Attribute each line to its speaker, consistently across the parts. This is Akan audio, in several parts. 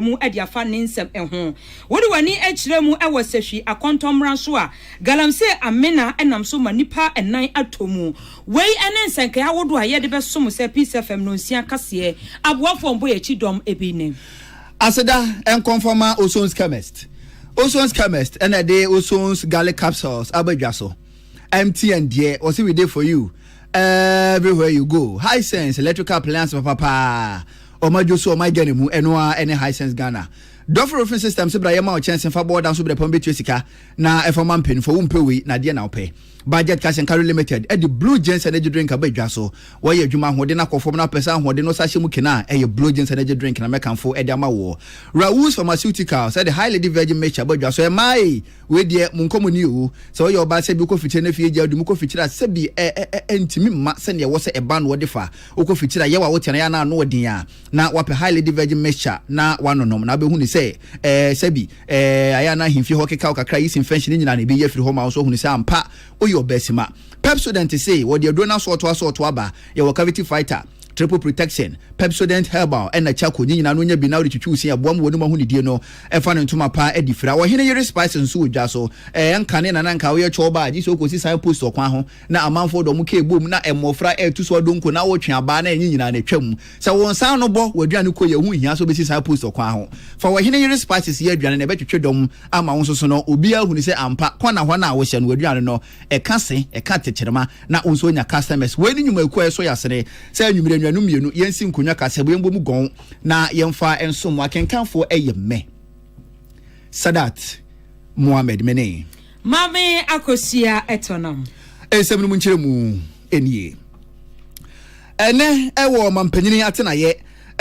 Speaker 1: mu de afa ne nsɛm ho. Wode w'ani kyerɛ mu wɔ sahwi akɔntɔn mmara so a, galamsey amena nam so ma nnipa nan atɔ mu. Wei ne nsɛnkae ahodoɔ a yɛde bɛsom sɛ Peace FM Nnɔnsia kaseɛ aboafoɔ mboyɛakyi dɔm bi ne. Aseda
Speaker 2: nkɔmfɔ ma Ozon's Chemist. Ozon's Chemist na ɛde Ozon's Garlic Capsules aba dwa so. MTN deɛ, wɔse we dey for you everywhere you go. Hisense electrical appliance papapaa. Ɔma adwo so ɔma Ghana mu, ɛno ara ɛne Hisense Ghana. Dɔfo Roofing Systems bra yɛma wo kyɛnse fa bɔ ɔdan so berɛ pa wobɛtua sika na ɛfa ma mpanyinfoɔ wompɛ wei na deɛ na wopɛ. Budget Cash and Carry Limited de Blue Jeans Energy Drink aba dwa so. Wɔyɛ adwuma ahoɔden no akɔ fam na wopɛ sɛ ahoɔden no sa hyɛ mu ken a, ɛyɛ Blue Jeans Energy Drink na mɛkamfo de ama woɔ. Raoul's Pharmaceuticals de High Lady Virgin Mixture aba dwa so. Ɛmaa ei! Wei deɛ monkɔ mo ni oo. Sɛ woyɛ ɔbaa sɛbi wokɔ fikyire na afei agya adi mu kɔ fikyire a sɛbi ɛ-ɛ-ɛ ɛntumi mma sɛdeɛ ɛwɔ sɛ ɛba no wɔde fa. Wokɔ fikyiri a, yɛ w'awo tɛn, yɛ a na ano wɔ den a, na wapɛ high lady virgin mixture na wanonom, na wobɛhu no sɛ ɛɛ sɛbi ɛɛ ayɛ a na ahemfie hɔ keka wo kakra yi sinfɛnhye no nyinaa na ɛbɛyi afiri hɔ ma wo, so wohunu sɛ ampa woyɛ ɔbaasima. Pepsodent se wɔde aduro no asɔɔto asɔɔto aba, yɛwɔ cavity fighter, triple protection, pepsodent herbal ɛna charcoal, ne nyinaa no wonya bi na wode twitwi wo se aboa ma w'anom ahonidie no ɛfa no ntoma pa de fira. Ɔhene yere spices nso wɔ dwa so, ɛɛ ɛnka ne na na nka woyɛ chɔɔbaa gye sɛ wokɔsi sign post ɔkwan ho, Na amanfoɔ de wɔn kɛɛ bom, na mmɔfra retu so adonko, na wotwe abaa, na ɛnye nyinaa na ɛtwa mu. Sɛ wo nsa ano bɔ w'aduane kɔ yi a, ɛho nhia sɛ wobɛsi saa post ɔkwan ho. Fa w'ɔhene yere spices yɛ aduane, na ɛbɛtwetwe dɔm ama wo nso so no, obiara ahunu sɛ ampa, kɔ na hɔn a wohyɛ no w'aduane no, ɛka se, ɛka tekyerema, na wo nso woanya customers. Wei ne nnwumayɛkuo a ɛsɔ yɛn asene, sɛ anwumerɛ anuanom mmienu, yɛnsi nkonwa kaseɛbɔ, yɛmbɔ mu gɔn, na yɛmfa nsom mo. Akenkanfoɔ yɛ mmɛ. Sadat Mohammed mene. Maame
Speaker 1: Akosua Ɛtɔnam. Nsɛm no mu
Speaker 2: nkyerɛmu nie. Ɛnɛ ɛwɔ ɔmampanyini atenaeɛ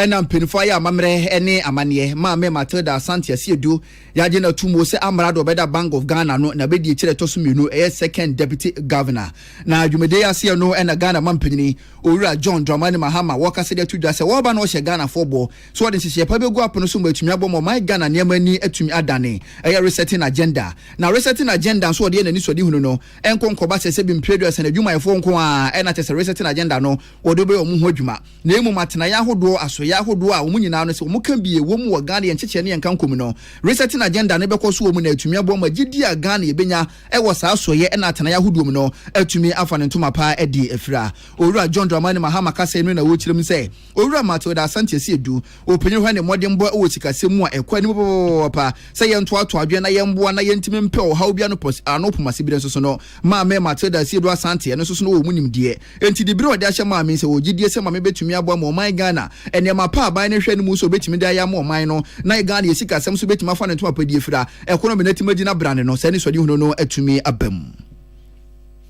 Speaker 2: ɛna mpanyinfoɔ ayɛ amammerɛ ɛne amanneɛ Maame Matilda Asante Asiedu yɛagye no ato muo sɛ amrado ɔbɛda Bank of Ghana no na bɛdi akyire ɛtɔ so mmienu ɛyɛ second deputy governor na dwumadie aseɛ no ɛna Ghana mampanyini Owura John Dramani Mahama wɔkasa de ato dwa sɛ wɔreba na wɔhyɛ Ghanafoɔ bɔ So wɔde nhyehyɛe pa begu apono so ma atumi abɔ ma ɔman Ghana nneɛma ani atumi adane? Ɛyɛ resetting agenda. Na resetting agenda nso wɔde yɛ n'anisoadehunu no nko nkɔba sɛ sɛbi mpire aduasa no adwumayɛfoɔ nko ara na kyerɛ sɛ resetting agenda no wɔde bɛyɛ wɔn ho adwuma na mmom atenaeɛ ahodoɔ asoeɛ ahodoɔ a wɔn nyinaa no sɛ wɔn ka bi wɔ mu wɔ Ghana yɛn nkyekyɛ ne yɛn nkanko mu no resetting agenda no bɛkɔ so wɔ mu na atumi aboa ma gyedie a Ghana yɛbɛnya wɔ saa asoeɛ na atenaeɛ ahodoɔ mu no atumi afa ne ntoma paa adi afira. Owura John Dramani Mahama kasɛe no na wɔkyerɛ mu sɛ Owura Matilda Asante Assi Adu, Ɔpanyin hɔ ne mmɔdenbɔ wɔ sikasɛm mu a ɛkɔ anim papaapa sɛ yɛntoatoa adwene na yɛmmoa na yɛntumi mpɛ ɔhaw biara no pɔs ano poma sibire nso sono Maame Matilda Assi Adu Asante ɛno nso sono wɔ mu nimdeɛ enti dibere a ɔde ahyɛ maame nsa wɔ gyidie sɛ maame bɛtumi aboa ma ɔman Ghana nneɛma pa a aban no hwɛ no mu sɛ ɔbɛtumi de ayɛ ama ɔman no na Ghana yɛ sikasɛm so bɛtumi afa no ntoma pa die fira ɛkono mena ti ma gyina brane no saa anisoadehunu no atumi aba mu.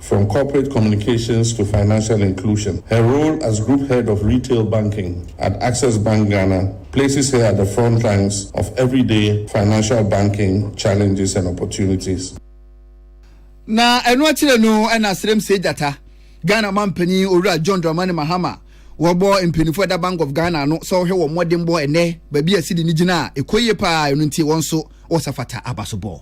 Speaker 3: From Corporate Communications to Financial Inclusion, her role as Group Head of Retail Banking at Access Bank Ghana places her at the frontlines of everyday financial banking challenges and opportunities.
Speaker 2: Na ɛno akyire no ɛna Serem Seigyata, Ghana manpanin Owura John Dramani Mahama wɔbɔ mpaninfoɔ ɛda Bank of Ghana ano sɛ ɔhwɛ wɔn mmɔdenbɔ ɛnɛ baabi a sidi no gyina a ɛkɔ yie paa ɛno nti wɔn nso wɔsafata abasobɔ.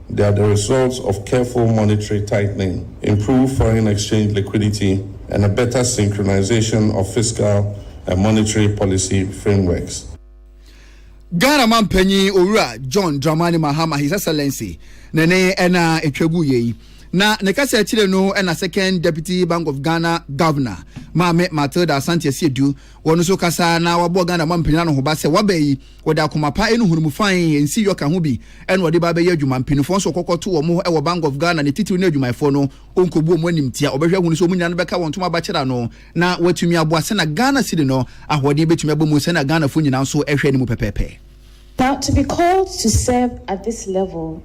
Speaker 3: They are the results of careful monetary tightening, improved foreign exchange liquidity, and a better synchronization of fiscal and monetary policy frameworks.
Speaker 2: Ghana Mampanyin Owura John Dramani Mahama, His Excellency, ne ne ɛna ɛtwa gu yei. Na ne kasa akyire no ɛna Second Deputy Bank of Ghana Governor, Maame Matilda Asante Asiedu, wɔn nso kasa na wɔabɔ Ghana Mampanyin anohoba sɛ waba yi Wɔde akoma pa ne nhunumu fann nsi yɔ ka ho bi na wɔde ba bɛyɛ adwuma. Mpanyinfoɔ nso kɔkɔ to wɔn wɔ Bank of Ghana ne titiriw ne adwumayɛfoɔ no ɔnkɔbu wɔn animtia. Wɔbɛhwɛ ahunu sɛ wɔn nyinaa no bɛka wɔn ntoma abakyere ano na wɔatumi aboa sɛnea Ghana cedi no ahoɔden bɛtumi aba mu sɛnea Ghanafoɔ nyinaa nso hwɛ no mu pɛpɛɛpɛ. Now to be
Speaker 4: called to serve at this level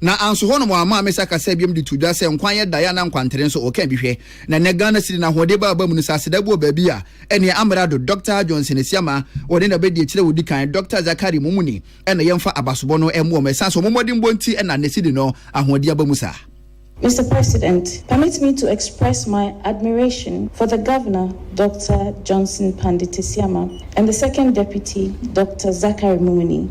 Speaker 2: Na anso hɔnom amma Amesa kasa biom de too dwa sɛ nkwa yɛ dae anaa nkwantere nso ɔka bi hwɛ. Na nnɛ Ghana cedi no ahoɔden ba aba mu no sɛ aseda bi wɔ baabi a ɛneɛ Amerado Dɔkta Johnson Asiamah wɔne no abɛdi akyire a ɔdi kan Dɔkta Zachary Momuni ɛna yɛmfa abasobɔ no mmoa wɔn ɛsan sɛ wɔn mmɔdenbɔ nti ɛna nnɛ cedi no ahoɔden aba mu saa. Mister
Speaker 4: President, permit me to express my admiration for the Governor Dɔkta Johnson Pandit Asiamah and the Second Deputy Dɔkta Zachary Momuni.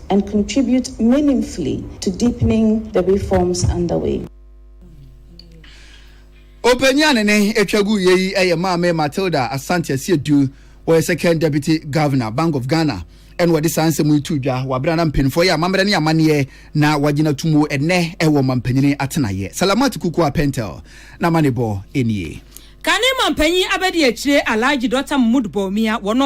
Speaker 4: and contribute meaningfully to deepening the reforms underway.
Speaker 2: Ɔpanyin a ne ne atwa gu yɛ yi yɛ Maame Matilda Asante Asiedu. Wɔyɛ second deputy governor Bank of Ghana ɛna wɔde saa nsɛm yi to dwa wɔ abere na mpanyinfoɔ yɛ amammerɛ ne amanneɛ na wɔagyina to mu ɛnɛ ɛwɔ mampanyini atenaeɛ Salamat Kukuwa Pentel na amanebɔ nie. Kane mampanyin
Speaker 1: abadiakyire Alhaji Dɔkta Mahmood Bawumia, wɔn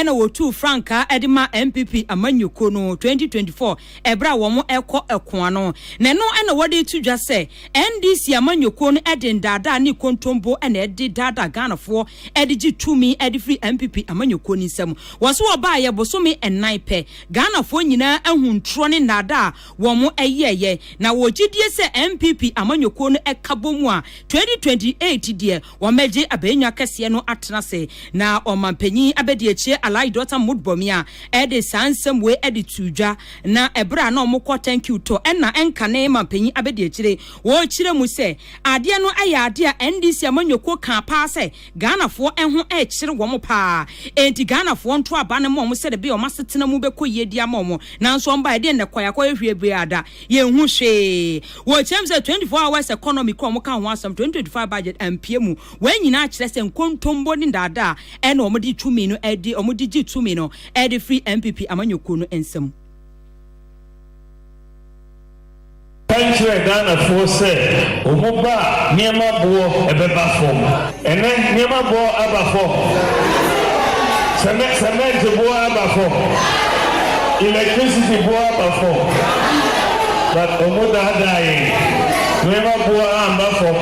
Speaker 1: na wɔtuu frankaa de maa NPP amanyɔkuo no 2024 berɛ a wɔn rekɔ ɛko ano. Na ɛno na wɔde reto dwa sɛ NDC amanyɔkuo no de ndaadaa ne kontombo na ɛde daadaa Ghanafoɔ de gye tumi de firi NPP amanyɔkuo no nsam. Wɔse wɔbaeɛ bosome nnan pɛ, Ghanafoɔ nyinaa ahu ntorɔ ne nnaadaa a wɔn yɛɛyɛ na wɔ gyidie sɛ NPP amanyɔkuo no ɛka bɔ mu a 2028 deɛ wɔbɛgye abɛɛnwa kɛseɛ no atena ase na ɔmanpanin abɛdiakyie Alhaji Dɔkta Mahmoud Bawumia de saa nsɛm wei de too dwa na ɛberɛ a na wɔn kɔ thank you tɔ ɛna ɛnkane manpanin abɛdiakyire wɔkyerɛ mu sɛ adeɛ no ɛyɛ adeɛ a NDC amanyɔkuo kaa paa sɛ Ghanafoɔ ɛho rekyere wɔn paa enti Ghanafoɔ nto aba no ma wɔn sɛdeɛ ɛbɛyɛ wɔn asetena mu bɛkɔ yie de ama wɔn nanso wɔn baeɛ deɛ nnɛkɔ yɛakɔ yɛhwɛ bue ada yɛnhu hwee wɔkyerɛ mu sɛ 24 hours economy kora wɔn ka ho asɛm 2025 budget ampue mu wei nyinaa kyerɛ sɛ nkontombo ne ndaadaa ɛna wɔn de tumi no ɛde wɔn de gye tumi no ɛde firi NPP amanyɔkuo no nsam.
Speaker 5: Ka nkyerɛ Ghana foɔ sɛ ɔmo ba a nneɛma boɔ ɛbɛba fɔm. Ɛnɛ nneɛma boɔ aba fɔm. Sɛmɛ sɛmɛnte boɔ aba fɔm. Electricity boɔ aba fɔm. But ɔmo daadaa yɛn. Nneɛma boɔ amba fɔm.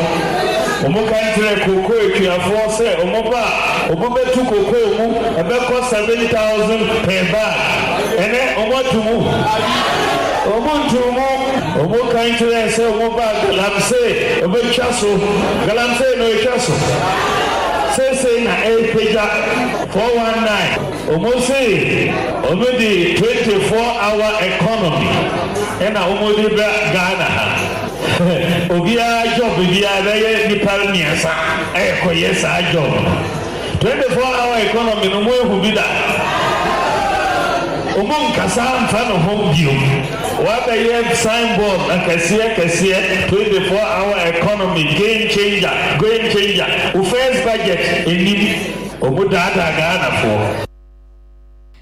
Speaker 5: Ɔmo ka nkyerɛ cocoa atuafoɔ sɛ ɔmo ba a ɔmo bɛtu cocoa mu ɛbɛkɔ seven thousand per bag. Ɛnɛ ɔmo atu mu. Wɔtoo mu, wɔkae kyerɛɛ sɛ wɔbaa galamsey wɔbɛtwa so, galamsey na wɔatwa so seesei na ɛrepagya, 419, wɔse wɔde 24 hour economy na wɔde ba Ghana ha, obiara job biara bɛyɛ nnipa mmiɛnsa ɛrekɔyɛ saa job no. Twenty four hour economy no ɔmo ehu bi da ɔmo nkasa nfa no ho bio wabɛyɛ sign board akɛseɛ kɛseɛ twenty four hour economy game changer game changer wo first budget enim ɔmo daadaa Ghana foɔ.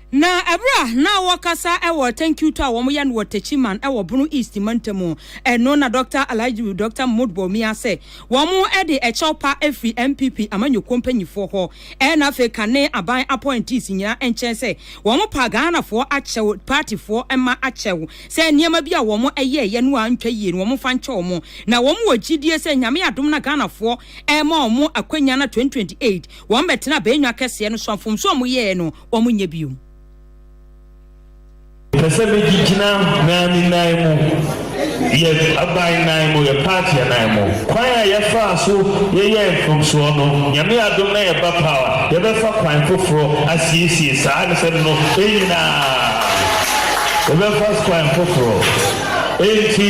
Speaker 1: Na bere a na wɔkasa wɔ Tankiuto a wɔyɛ no wɔ Techiman wɔ Bono East mantam no na Dɔkta Alhaji Dɔkta Mahmood Bawumia sɛ wɔde ɛkyɛw pa firi NPP amanyɔkuo mpanyifoɔ hɔ na afei kane aban appointees nyinaa nkyɛn sɛ wɔpa Ghanafoɔ akyɛw, partyfoɔ mma akyɛw sɛ nneɛma bi a wɔyɛeɛ no antwa yie no wɔmfa nkyɛ wɔn na wɔwɔ gyidie sɛ Nyame adom na Ghanafoɔ rema wɔn akwanya no 2028 Wɔn bɛtena abɛɛnwa kɛseɛ no so a mfomsoɔ a wɔn yɛɛ no wɔn nyɛ bio.
Speaker 5: Pɛ sɛ me gye gyina naani nan mu, yɛ aban nan mu, yɛ paatiɛ nan mu. Kwan a yɛ faa so yɛ yɛɛ mfomsoɔ no, Nyame adom na yɛ ba paw a, yɛ bɛ fa kwan foforɔ asiesie saa nsɛm no nyinaa. Yɛ bɛ fa kwan foforɔ Enti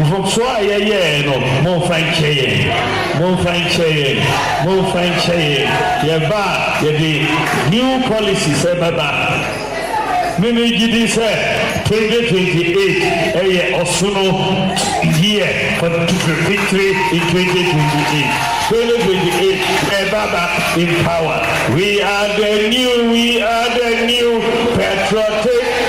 Speaker 5: mfomsoɔ a yɛyɛeɛ no, momfa nkyɛ yɛn. Momfa nkyɛ yɛn. Momfa nkyɛ yɛn. Yɛba a, yɛde new policies bɛba. Me me gye di sɛ 2028 yɛ ɔsono year for victory in 2028. 2028 yɛba ba in power. We are the new, we are the new patriotic.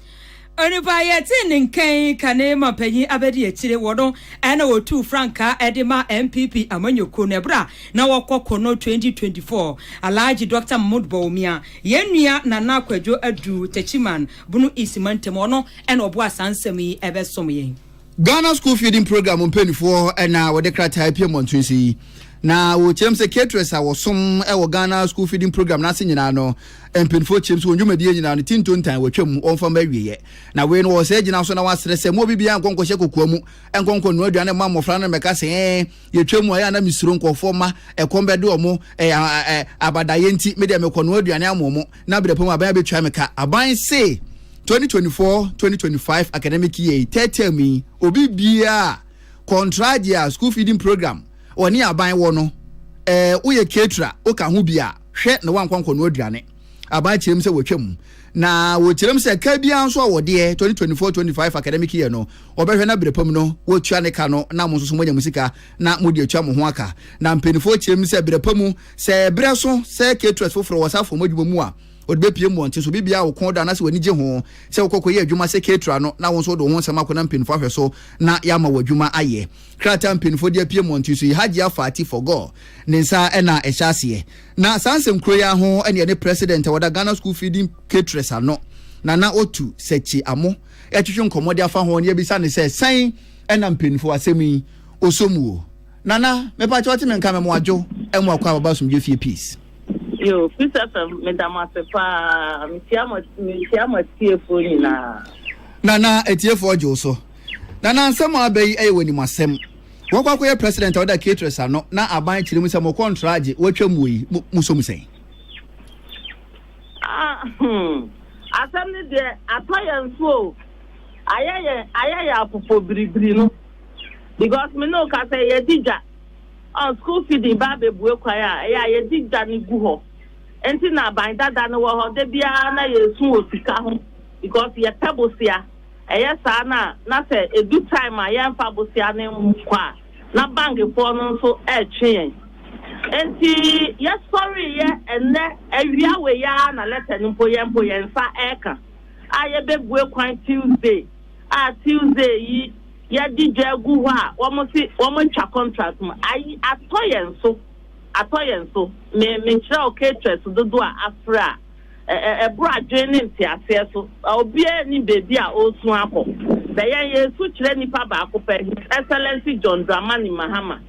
Speaker 1: Onipa yɛ tee ne nka yi kane ma panyin abɛdi akyire wɔ no ɛna wɔtuu frankaa ɛde ma NPP amanyɔkuo no ɛberɛ a na wɔkɔ ko no 2024. Alhaji Dɔkta Mahmood Bawumia, yɛn nua Nana Kwadwo Adu Techiman, Bono East mantam, ɔno ɛna ɔboa saa nsɛm yi ɛbɛsom yɛn. Ghana School Feeding
Speaker 2: Programme mpanimfoɔ na wɔde krataa apue mmɔnten so yi. Na wɔkyerɛm sɛ caterers a wɔsom wɔ Ghana School Feeding Programme no ase nyinaa no mpanimfoɔ kyerɛm sɛ wɔn dwumadie nyinaa no ti ntontan wɔatwam wɔmfa ma awieɛ. Na wei no wɔwɔ saa gyina so na wɔasrɛ sɛ mo obi biara nkɔ nkɔhyɛ kokoa mu nkɔ nkɔ noa aduane mma mmɔfra no mmɛka sɛ ɛɛ yɛtwa mu a ɛyɛ na mesuro nkurɔfoɔ ma ɛkɔm bɛde wɔn abadayɛ nti medeɛ mekɔ noa aduane amoɔ mo na berɛ pa mu aban abɛtua me ka. Aban se 2024-2025 academic year yi, third term yi, obi biara kɔntraa deɛ school feeding program wɔne aban wɔ no, ɛɛ eh, woyɛ ketra, woka ho bi a, hwɛ na woankɔ nkɔno aduane. Aban kyerɛm sɛ wɔtwam na wɔkyerɛm sɛ ka biara nso a wɔdeɛ 2024-25 academic year no wɔbɛhwɛ no berɛ pam no wɔtua ne ka no na mo nso so moanya mo sika na mode atua mo ho aka na mpanimfoɔ kyerɛm sɛ berɛ pa mu Sɛ ɛberɛ so sɛ caterers foforɔ wɔ saa fam adwuma mu a, wɔde bɛpue mmɔnten. So biribiara a wo kɔn dɔ anaasɛ w'ani gye ho sɛ wokɔ kɔyɛ adwuma sɛ caterer no na wo nso wode wo ho nsɛm akɔnam mpanyinfoɔ ahwɛ so na yɛama wo adwuma ayɛ? Krataa a mpanyinfoɔ de apue mmɔnten so yi, Hajia Fati Forgor ne nsa na ɛhyɛ aseɛ. Na saa nsɛmkuro yi ara ho na yɛne President a wɔda Ghana School Feeding Caterers ano, Nana Otu Sechi Amo retwetwe nkɔmmɔ de afa ho na yɛabisa no sɛ, Sɛn na mpanyinfoɔ asɛm yi ɔsɔ mu o? Nana mepa kyɛw te me nka me mo adwo ɛmo akɔ ababa asomdwe fie peace. Yo peace
Speaker 6: fm me da mo ase paa me tia mo me tia mo atiefoɔ nyinaa. Nana
Speaker 2: atiefoɔ ɔgye wo so. Nana nsɛm a aba yi ɛyɛ wɔ nim asɛm. Wakɔ akɔyɛ president a ɔda caterers ano na aban kyerɛ mu sɛ mo kɔntra agye watwa mu yi mo mo som sɛn. Ah hmm
Speaker 6: asɛm ne deɛ atɔ yɛn so o ayɛ yɛn ayɛ yɛn apopɔ biribiri no. because me ne wo kasa yi yɛdi dwa ɔn school fee de ba abɛbue kwan a ɛyɛ a yɛdi dwa no gu hɔ nti na aban dada no wɔ hɔ da biara na yɛsu wɔ sika ho because yɛpɛ bosea ɛyɛ saa na na sɛ edu time a yɛmfa bosea no nkɔ a na bankfoɔ no nso ɛretwe yɛn nti yɛsɔreeɛ ɛnɛ awia wei ara na lɛtɛ no mpo yɛn mpo yɛn nsa ɛreka a yɛbɛbue kwan Tuesday a Tuesday yi yɛde dwa agu hɔ a wɔse wɔatwa contract mu. Ayi atɔ yɛn so, atɔ yɛn so. Me, menkyerɛ wo caterers dodoɔ a afra a, ɛ, ɛ, ɛboro adwene ne nteaseɛ so. Obiara nnim baabi a ɔresu akɔ. Bɛ yɛn, yɛresu kyerɛ nipa baako pɛ, His Excellency John Dramani Mahama.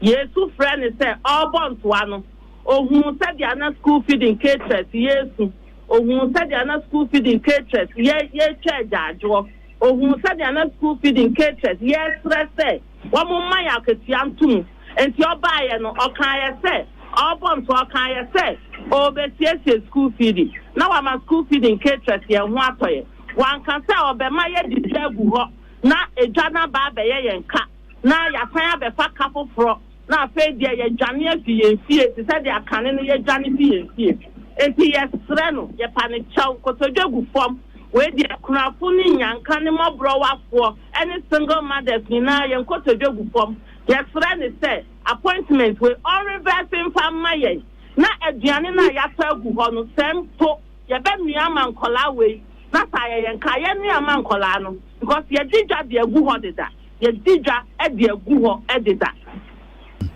Speaker 6: Yɛresu frɛ no sɛ ɔrebɔ ntoa no. Ɔhuu sɛdeɛ na school feeding caterers yi resu. Ohun sɛdeɛ na school feeding caterers yɛ yɛretwa agyaadwoɔ. Ohun sɛdeɛ na school feeding caterers yɛresrɛ sɛ wɔmma yɛn akatua nto mu. Enti ɔbaeɛ no, ɔkaeɛ sɛ ɔrebɔ nso ɔkaeɛ sɛ ɔrebɛsiesie school feeding na wama school feeding caterers yɛn ho atɔ yɛn. Wanka sɛ ɔbɛma yɛde dwa agu hɔ na dwa no aba abɛyɛ yɛn ka na yɛasan abɛfa ka foforɔ. na afei deɛ yɛadwane afi yɛn fie te sɛ deɛ kane no yɛdwane fi yɛn fie. Enti yɛsrɛ no, yɛpa no kyɛw, nkotodwe gu fam. Wei deɛ, akunafo ne nnyanka ne mmɔborɔwafoɔ ne single mothers nyinaa, yɛn nkotodwe gu fam. Yɛsrɛ no sɛ, appointment wei, ɔnrevɛse mfa mma yɛn, na aduane no a yɛatɔ agu hɔ no, sɛ mpo yɛbɛnoa ama nkwadaa wei, na sɛ ayɛ yɛn nkaeɛ noa ma nkwadaa no, because yɛadi dwa de agu hɔ deda. yɛdi dwa de agu hɔ deda. Hmm.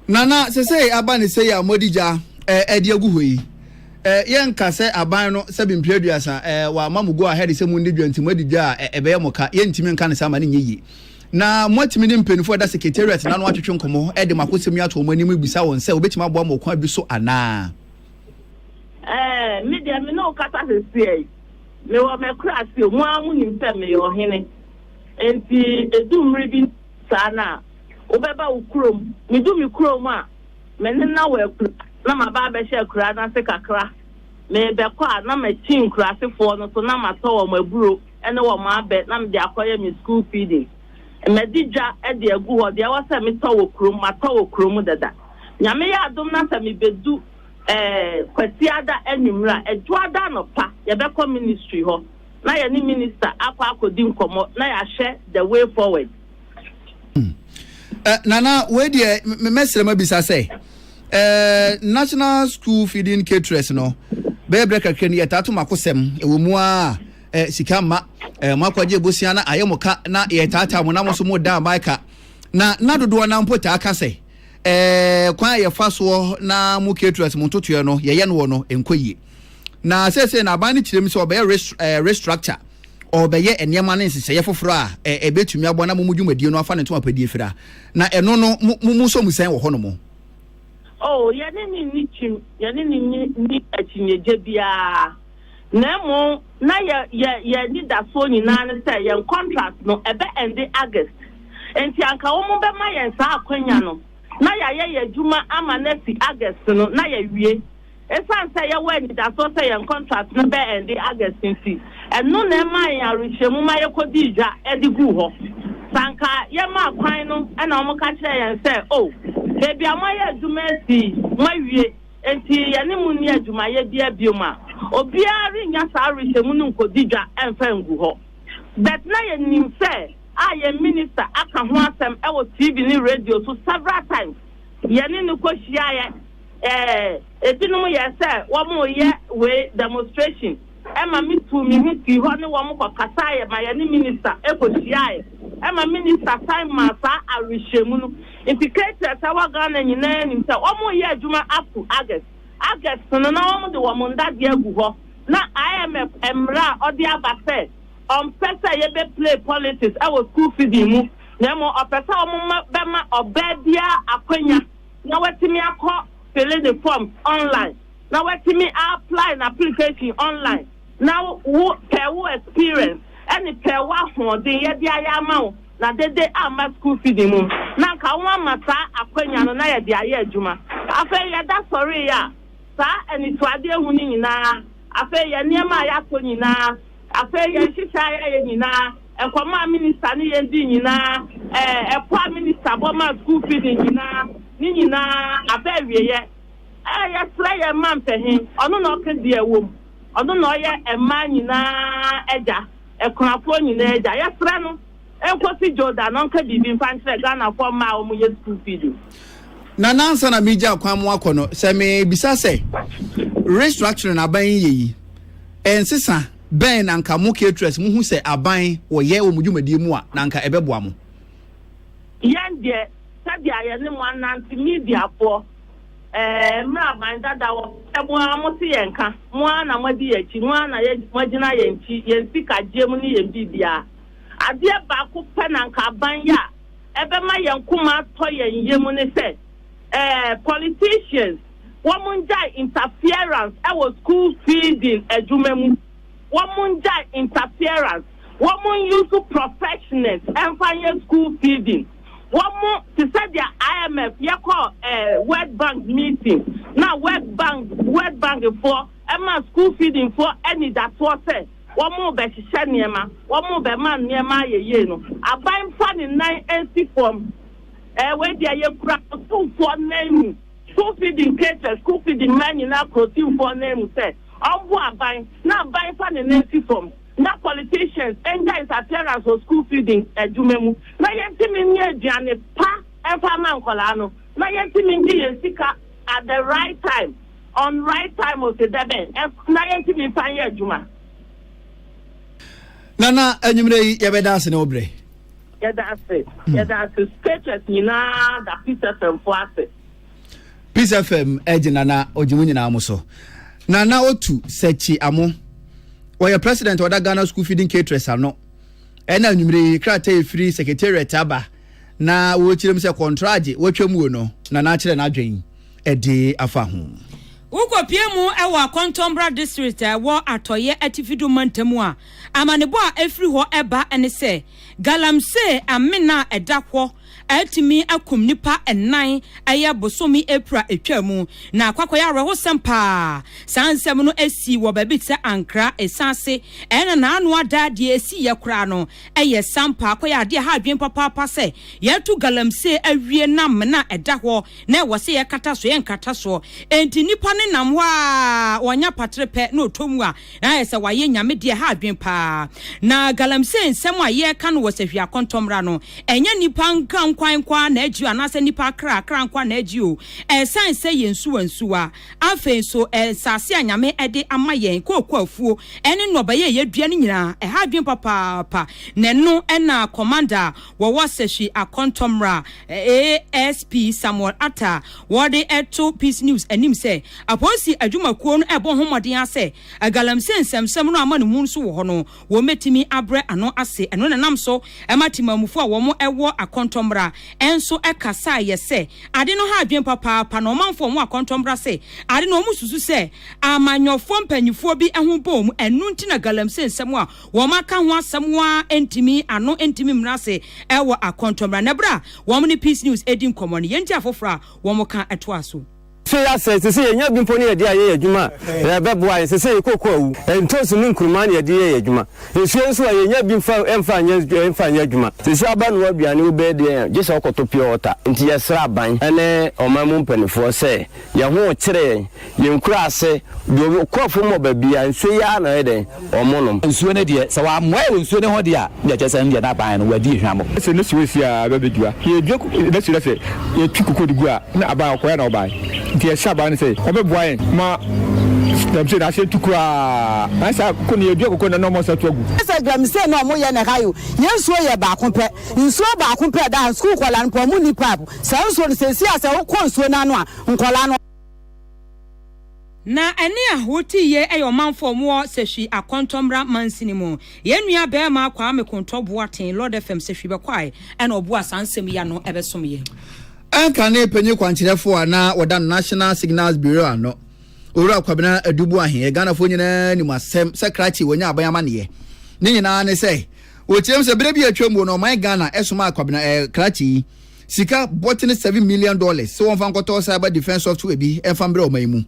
Speaker 2: Nana, sesei aba ne sɛ yi a modi gya de agu hɔ yi, yɛnka sɛ aban no sɛ bempire aduasa wɔama mo go ahead sɛ mundi dwa nti moadi dwa a ɛbɛyɛ mo ka, yɛntumi nka ne saa ma ne nyɛ yie. Na moatumi ne mpanimfoɔ ɛda secretariat na no atwetwe nkɔmmɔ de mo akosɛm yi ato wɔn anim bisa wɔn sɛ wɔbɛtumi aboa mo ɔkwan bi so anaa? Ɛɛ,
Speaker 6: me deɛ me ne wo kasa seseɛ yi, mewɔ m'akurase, mo ara monim sɛ meyɛ ɔhene. Enti edu mmere bi saa no a, wobɛba wo kurom. Midu me kurom a, me ne no awɔ akuraa na maba abɛhyɛ akuraa no ase kakra. Merebɛkɔ a, na makyin nkuraasefɔɔ no so na matɔ wɔn aburo ne wɔn abɛ na mede akɔyɛ me sukuu feeding. Madi dwa de agu hɔ. Deɛ ɛwɔ sɛ metɔ wɔ kurom, matɔ wɔ kurom dada. Nyame yɛ adom na sɛ mebedu eh, Kwasiada anwummere a, Dwoada anɔpa, yɛbɛkɔ ministry hɔ. na yɛne minista akɔ
Speaker 2: akɔdi nkɔmmɔ na yɛahwɛ the way forward. Hmm. Eh, nana wei deɛ mɛsrɛ ma bisa sɛ eh, national school feeding caterers no bɛyɛ berɛ kakra ni yɛtaa to mako sɛm ɛwɔ mu a eh, sika mma eh, moakɔgye abusua na ayɛ mo ka na yɛtaataa mo na mo so mo da aban ka na na dodoɔ na mpo taa ka sɛ eh, kwan a yɛfa soɔ na mo caterers mo ntotoɛ no yɛyɛ no wɔ no ɛnkɔ yie Na seesei no aban no kyerɛ mu sɛ ɔbɛyɛ restructure, ɔbɛyɛ nneɛma ne nhyehyɛeɛ foforɔ a ɛbɛtumi aboa na mo mo dwumadie no afa ne ntom apɛdie fira. Na ɛno no mo mo sɔ mu sɛn wɔ hɔ nom? Oh,
Speaker 6: yɛne no nni kyim, yɛne no nni akyinnyegye biara, na mmom na yɛ yɛ yɛn anidasoɔ nyinaa ne sɛ yɛn contract no ɛbɛ ɛnde August, enti anka wɔn bɛma yɛn saa akwanya no na yɛayɛ yɛn adwuma ama no afi August no na yɛawie, Esiane sɛ yɛwɔ anidaso sɛ yɛn kɔntrak no bɛɛnde August nti, ɛno na ɛmaa yɛn awerehyɛmu ma yekodii dwa de guu hɔ. Sɛ anka yɛmaa kwan no na wɔka kyerɛɛ yɛn sɛ, 'O, baabi a moayɛ adwuma asi yi, moawie, enti yɛne mo nni adwumayɛ biara bio' a, obiara rennya saa awerehyɛmu no nkodi dwa mfa ngu hɔ. But na yenim sɛ a yɛn minista aka ho asɛm wɔ TV ne radio so several times. Yɛne no kohyiae Ɛɛ, ebinom yɛɛ sɛ wɔreyɛ wei, demonstration, ɛma mituu me ho fii hɔ ne wɔn kɔkasaeɛ ma yɛne minista kɔhyiaeɛ, ɛma minista san maa saa awerehyɛmu no. Nti K-Press a ɛwɔ Ghana nyinaa nim sɛ wɔreyɛ adwuma up to August. August no, na wɔde wɔn ndadeɛ agu hɔ, na IMF mmara a ɔde aba sɛ ɔmpɛ sɛ yɛbɛplay politics wɔ school feeding mu, na mmom ɔpɛ sɛ wɔma bɛma ɔbaa biara akwanya na watumi akɔ fili ne forms online na watumi a apply na application online na wo pɛ wo experience ɛne pɛ wo ahoɔden yɛde ayɛ ama wo na dede amma school feeding mu na nka wo ama saa akwanya no na yɛde ayɛ adwuma afei yɛda sɔre yɛ a saa anitoade ehu no nyinaa afei yɛ nneɛma a yɛatɔ nyinaa afei yɛn hyehyɛ ayɛ nyinaa Nkɔmmɔ a minista ne yɛn dii nyinaa, ɛɛ, ɛpo a minista bɔ maa sukuu fee no nyinaa, ne nyinaa, aba awieɛ. Ɛɛ, yɛsrɛ yɛn mma mpɛ he? Ɔno na ɔka deɛ ɛwom. Ɔno na ɔyɛ mmaa nyinaa agya, akunafoɔ nyinaa agya. Yɛsrɛ no, ɛnkɔsi Dwoda na ɔnka biribi mfa nkyerɛ Ghanafoɔ mmaa a wɔyɛ sukuu fee no. Nana,
Speaker 2: ansa na meregya akwan mu akɔ no, sɛ mebisa sɛ restructuring aban yi yɛ yi, ɛnsesa? bɛn na anka mo caterers muhu sɛ aban wɔyɛ wɔ mo dwumadie mu a na anka ɛbɛboa mo? Yɛn
Speaker 6: deɛ sɛdeɛ yɛne mo anante mediafoɔ eh, mmerɛ aban dada wɔpɛ mo ara mote yɛn nka, mo ara na moadi yɛn akyi, mo ara na moagyina yɛn akyi, yɛn sika gyeɛ mu ne yɛn biribiara. Adeɛ baako pɛ na anka aban yɛ a ɛbɛma yɛn koma atɔ yɛn yam ne sɛ eh, politicians, wɔn ngyae interference wɔ school feeding adwuma mu, wɔn ngyae interference, wɔn nuse professionals mfa nyɛ school feeding, wɔn te sɛ deɛ IMF yɛkɔ eh, World Bank meeting na World Bank World Bank foɔ ɛma school feeding foɔ anidasoɔ sɛ wɔn bɛhyehyɛ nneɛma, wɔn bɛma nneɛma ayɛ yie no, aban fa ne nan nsi fam, eh, wei deɛ yɛkura ɔsomfoɔ nan mu. School Feeding Kater School Feeding Mmaa Nyinaa Krotimfoɔ Ananmu sɛ ɔmboa aban na aban fa ne nan si fam na politicians ngyae his appearance wɔ school feeding adwuma mu na yɛntumi nnya aduane pa mfa mma nkwadaa no na yɛntumi ngye yɛn sika at the right time on right time ose dɛbɛn na yɛntumi mfa nyɛ adwuma.
Speaker 2: Nana, anwummerɛ yi yɛbɛda ase ne wo berɛ.
Speaker 6: Yɛda ase, yɛda ase sketchers
Speaker 2: nyinaa da Peace FM fo ase. Peace FM ɛgye nana ɔgye mu nyinaa mo so. Nana otu sɛkyi amo. Wɔyɛ president ɔda Ghana school feeding caterers ano. Ɛna anwumere yi krataa efiri secretariat aba na wɔkyerɛ mu sɛ kɔntragye wɔatwa muo no nana akyerɛ n'adwen ɛde afa ho. Wokɔpie mu
Speaker 1: wɔ Akɔntɔmbra district a ɛwɔ atɔeɛ atifi do mantam a, amanebɔ a ɛfiri hɔ ba ne sɛ, Galamsey amena a ɛda hɔ a atumi akum nnipa nnan ɛyɛ bosome April a ɛtwaa mu, na akɔakɔ yɛ awerɛhosɛm paa. Saa nsɛm no sii wɔ baabi te sɛ Ankara, ɛsiane ase ɛna n'ano ada a deɛ ɛsiiɛ koraa no yɛ sampa akɔ yɛ adeɛ ɛha adwene papaapa sɛ yɛatu Galamsey awie na amena a ɛda hɔ na ɛwɔ sɛ yɛkata so yɛnkata soɔ. Enti nnipa no nam hɔ ara wɔnya patere pɛ na ɔtɔ mu a na ayɛ sɛ wayɛ Nyame deɛ ha adwene paa. Na galamsey nsɛm a yɛreka no wɔ Sahwia Kɔntɔmmra no, ɛnyɛ nnipa nkrankwan nko ara na agye o, anaasɛ nnipa akra akra nko ara na agye o, ɛsan sɛ yɛn nsuwa nsuwa, afei nso nsase a Nyame de ama yɛn, kooko afuo, ɛne nnɔbaeɛ a yɛdua no nyinaa, ɛha adwene papaapa. Na ɛno na Commander wɔwɔ sahwi akɔntɔ mmra ASP Samuel Atta a wɔde to Peace News anim sɛ apolisi adwumakuo no ɛbɔ ho mmɔden ara sɛ Galamsey nsɛmsɛm no amanemu nso wɔ hɔ no wɔmɛtumi abrɛ ano ase ɛno na nam so ma temanmufoɔ a wɔn ɛwɔ akɔntɔ mmra nso ɛkasaeɛ sɛ ade no ha adwene papaapa na ɔmanfoɔ a wɔn akɔntɔ mmra sɛ ade no wɔn susu sɛ amanyɔfoɔ mpanimfoɔ bi ho bɔ wɔn ɛno nti na Galamsey nsɛm a wɔaka ho asɛm wo ara ɛntumi ano ɛntumi mmra ase ɛwɔ akɔntɔ mmra na berɛ a wɔn ne Peace News ɛdi nkɔmmɔ no yɛntie afoforɔ a wɔn ka ɛtoa so. Sɛ yɛasɛe, te sɛ
Speaker 7: yɛnya bi mpo ne yɛde ayɛ yɛn adwuma a, ɛbɛboa yɛn. Sɛ sɛ yɛkɔ ɔko a, awu. Ntoosi ne nkuruma na yɛde yɛ yɛn adwuma. Nsuo nso a, yɛnya bi mfa mfa nyɛ mfa nyɛ adwuma. Sɛ sɛ abanoa aduane wobɛyɛ dɛn a, gye sɛ wokɔtɔ pure water. Nti yɛsrɛ aban ne ɔman mu mpanimfoɔ sɛ yɛn ho rekyere yɛn. Yɛn nkuraase deɛ ɔkɔɔfo mmɔ baabiara nsuo yi ara na ɔyɛ dɛn? Ɔmo nom. Nsuo no deɛ sɛ
Speaker 8: w'amoae wɔ nsuo no ho deɛ a ne deɛ kyerɛ sɛ ɛno deɛ n'aban no w'adi ehwamɔ. Sɛ ne suo si a aba
Speaker 9: bɛ dua. Yɛ dua ne suo na sɛ yɛ tu koko de gu a ne aban ɔkɔɛ na ɔbae. Nti yɛ hyɛ aban no sɛ ɔbɛ boa yɛn ma galamsey no asan tu koraa. Ae saa koko no yɛ dua koko no na ɔmo asan atu agu. Sɛ galamsey na ɔmo
Speaker 10: yɛ na ɛha yi o yɛ nsuo yɛ baako pɛ. Nsuo baako pɛ ɛda ha. Sukuu nkɔlaa no paa ɔmo nni paap. Saa nsuo no sɛ ɛsi a sɛ wo kɔ nsuo no ano a nkɔlaa no. Na
Speaker 1: ɛne ahoroteyɛ yɛ ɔmanfo a wɔwɔ Sehwi akɔntɔ mmra mansini mu. Yɛn nua bɛɛma Kwame Kontɔ Boateng, Lord FM Sehwi bɛkwae ɛna ɔboa saa nsɛm yi ano ɛbɛsom yɛn. Anchor ne
Speaker 2: panyin kwankyerɛfo a na wɔda no National Signals Bureau ano, Owura Kwabena Adu Boahen yɛ Ghanafo nyinaa nim asɛm sɛ krakye wɔnya aban amanneɛ. Ne nyinaa ne sɛ, wɔkyerɛm sɛ berɛ bi a atwam wɔ no ɔman Ghana somaa Kwabena eh, krakye yi, sika bɔtene seven million dollars sɛ wɔmfa nkɔtɔ cyber defence software bi mfa mbrɛ ɔman yi mu.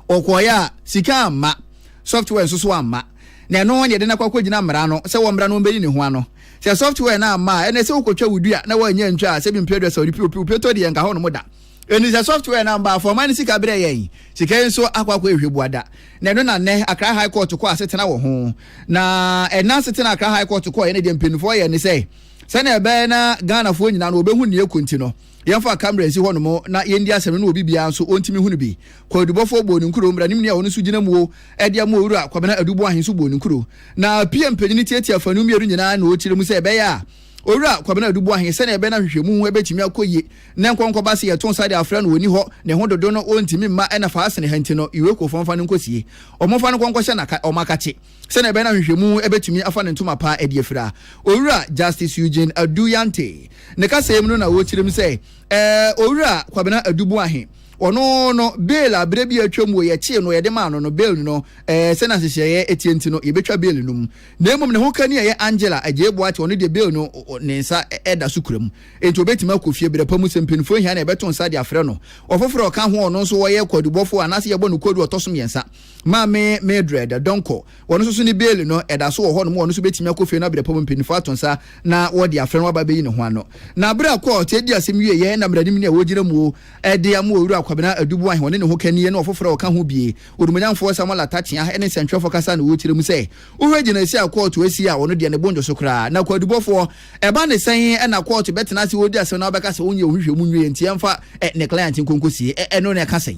Speaker 2: Ɔkɔɔeɛ a, sika amma, software nso so amma. Na ɛno ne yɛde no akɔ akɔgyina mmara no sɛ wɔmmra na wɔmmɛyi ne ho ano. Sɛ software no amma a, ɛnna sɛ wokɔtwa wo dua na woannya antwa a, sɛ bi mprɛ du a sɛ ɔde piu piu piu tɔ deɛ ɛnka hɔnom da. Enti sɛ software no amma a, fa ɔman no sika brɛ yɛn. Sika yi nso akɔ akɔyɛ hwɛbuada. Na ɛno na nnɛ Accra High Court kɔɔ asetena wɔ ho. Na ɛnna asetena a Accra High Court kɔɔeɛ no deɛ mpanyinfoɔ yɛɛ ne sɛ, Sɛnea ɛbɛyɛ na Ghanafoɔ nyinaa no wɔbɛhu nea ɛkɔ nti no, yɛmfa kamera nsi hɔnom na yɛndi asɛm no na obi biara nso ɔntumi hu no bi. Kwaadubɔfoɔ bɔɔ ne nkuro, mmaranimni a ɔno nso gyina muo de ama Owura Kwabena Adu Boahe nso bɔɔ ne nkuro. Na PM panin no tiatia afanu mmienu nyinaa na ɔkyerɛ mu sɛ ɛbɛyɛ a Owura Kwabena Adu Boahe sɛnea ɛbɛyɛ no ahwehwɛmu ho bɛtumi akɔ yie na nkɔnkɔba se yɛto nsa de afrɛ no ɔnni hɔ, ne ho dodo no ɔntumi mma ɛna faa sene ha nti no Iwekuofoɔ mfa no nkɔsie. Wɔmfa no nkɔnkɔhyɛ na ɔmmakakye. Sɛnea ɛbɛyɛ na nhwehwɛmu betumi afa ne ntoma pa adi afiri a, Owura Justice Eugene Adu Yante ne kasa yi mu no na wɔrekyerɛm sɛ, Ɛɛ, Owura Kwabena Adu Boahe, ɔno no, bail a berɛ bi a atwam wɔ yɛkyee no, yɛde maa no no, bail no, ɛɛ, sɛnea nhyehyɛeɛ teɛ nti no, yɛbɛtwa bail no mu. Na mmom ne ho kani a ɛyɛ Angela Agyei Boakye, ɔno deɛ bail no, ne nsa da so kura mu, enti ɔbɛtumi akɔ fie berɛ pa mu, sɛ mpanimfoɔ hia no a, yɛbɛto nsa de afrɛ no. Ɔfoforɔ a ɔka ho a ɔno nso ɔyɛ kwaadubɔfoɔ anaasɛ yɛbɔ no kwaadu a ɔtɔ so mmiɛnsa, Maame Mildred Donkor, ɔno nso so ne Bailey no, ɛda so wɔ hɔnom. Ɔno nso bɛtumi akɔ fie no abrɛ pɔ mu mpanyinfoɔ ato nsa na wɔde afrɛ no aba abɛyi ne ho ano. Na berɛ a kɔɔt adi asɛm wieeɛ na mmaranim ni a wɔgyina muo de ama Owura Kwabena Aduboahene, ɔne ne hokani ne ɔfoforɔ a ɔka ho bie, Odumonyamfoɔ Samuel Atakyea ne nsɛntwerɛfoɔ kasa na wɔkyerɛ mu sɛ wohwɛ gyinaesie a kɔɔto asi a ɔno deɛ ne bo nnwo so koraa. Na Kwadubɔfoɔ, ɛba ne sɛn na kɔɔto bɛtena ase wɔredi asɛm na wɔbɛka sɛ ɔnyɛ wo nhwehwɛmu nwieɛ nti ɛmfa ne client nkɔ nkɔsie? Ɛno na ɛka sɛn?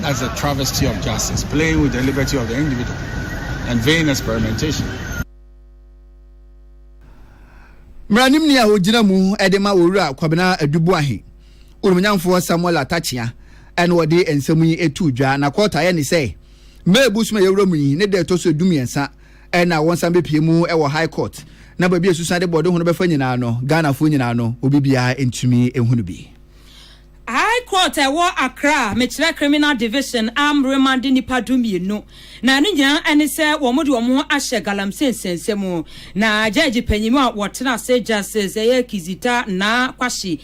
Speaker 11: That's a travesty of justice, playing with the liberty of the individual, and vain experimentation.
Speaker 2: mmaranimni a ogyina mu de ma owura kwabena aduboahe onumnyamfoɔ samuel atakyea ɛna ɔde nsɛm yi etu dwa na kɔɔta yɛ ne sɛ mee bosom a yɛwura mu yi ne da ɛtɔ so du mmiɛnsa ɛna wɔn san bɛpie mu ɛwɔ high court na baabi a esusan de bɔde ho no bɛfa nyinaa no ghanafoɔ nyinaa no obi biara ntumi ehunu bi. High
Speaker 1: Court a ɛwɔ Accra a mekyerɛ Criminal Division a mmerima de nnipa du-mmienu na ne nyinaa ne sɛ wɔde wɔn ho ahyɛ galamsey nsɛnsɛm mu na gyɛɛgye panyin a wɔtena ase Justice ɛyɛ Kizita Naa Kwahye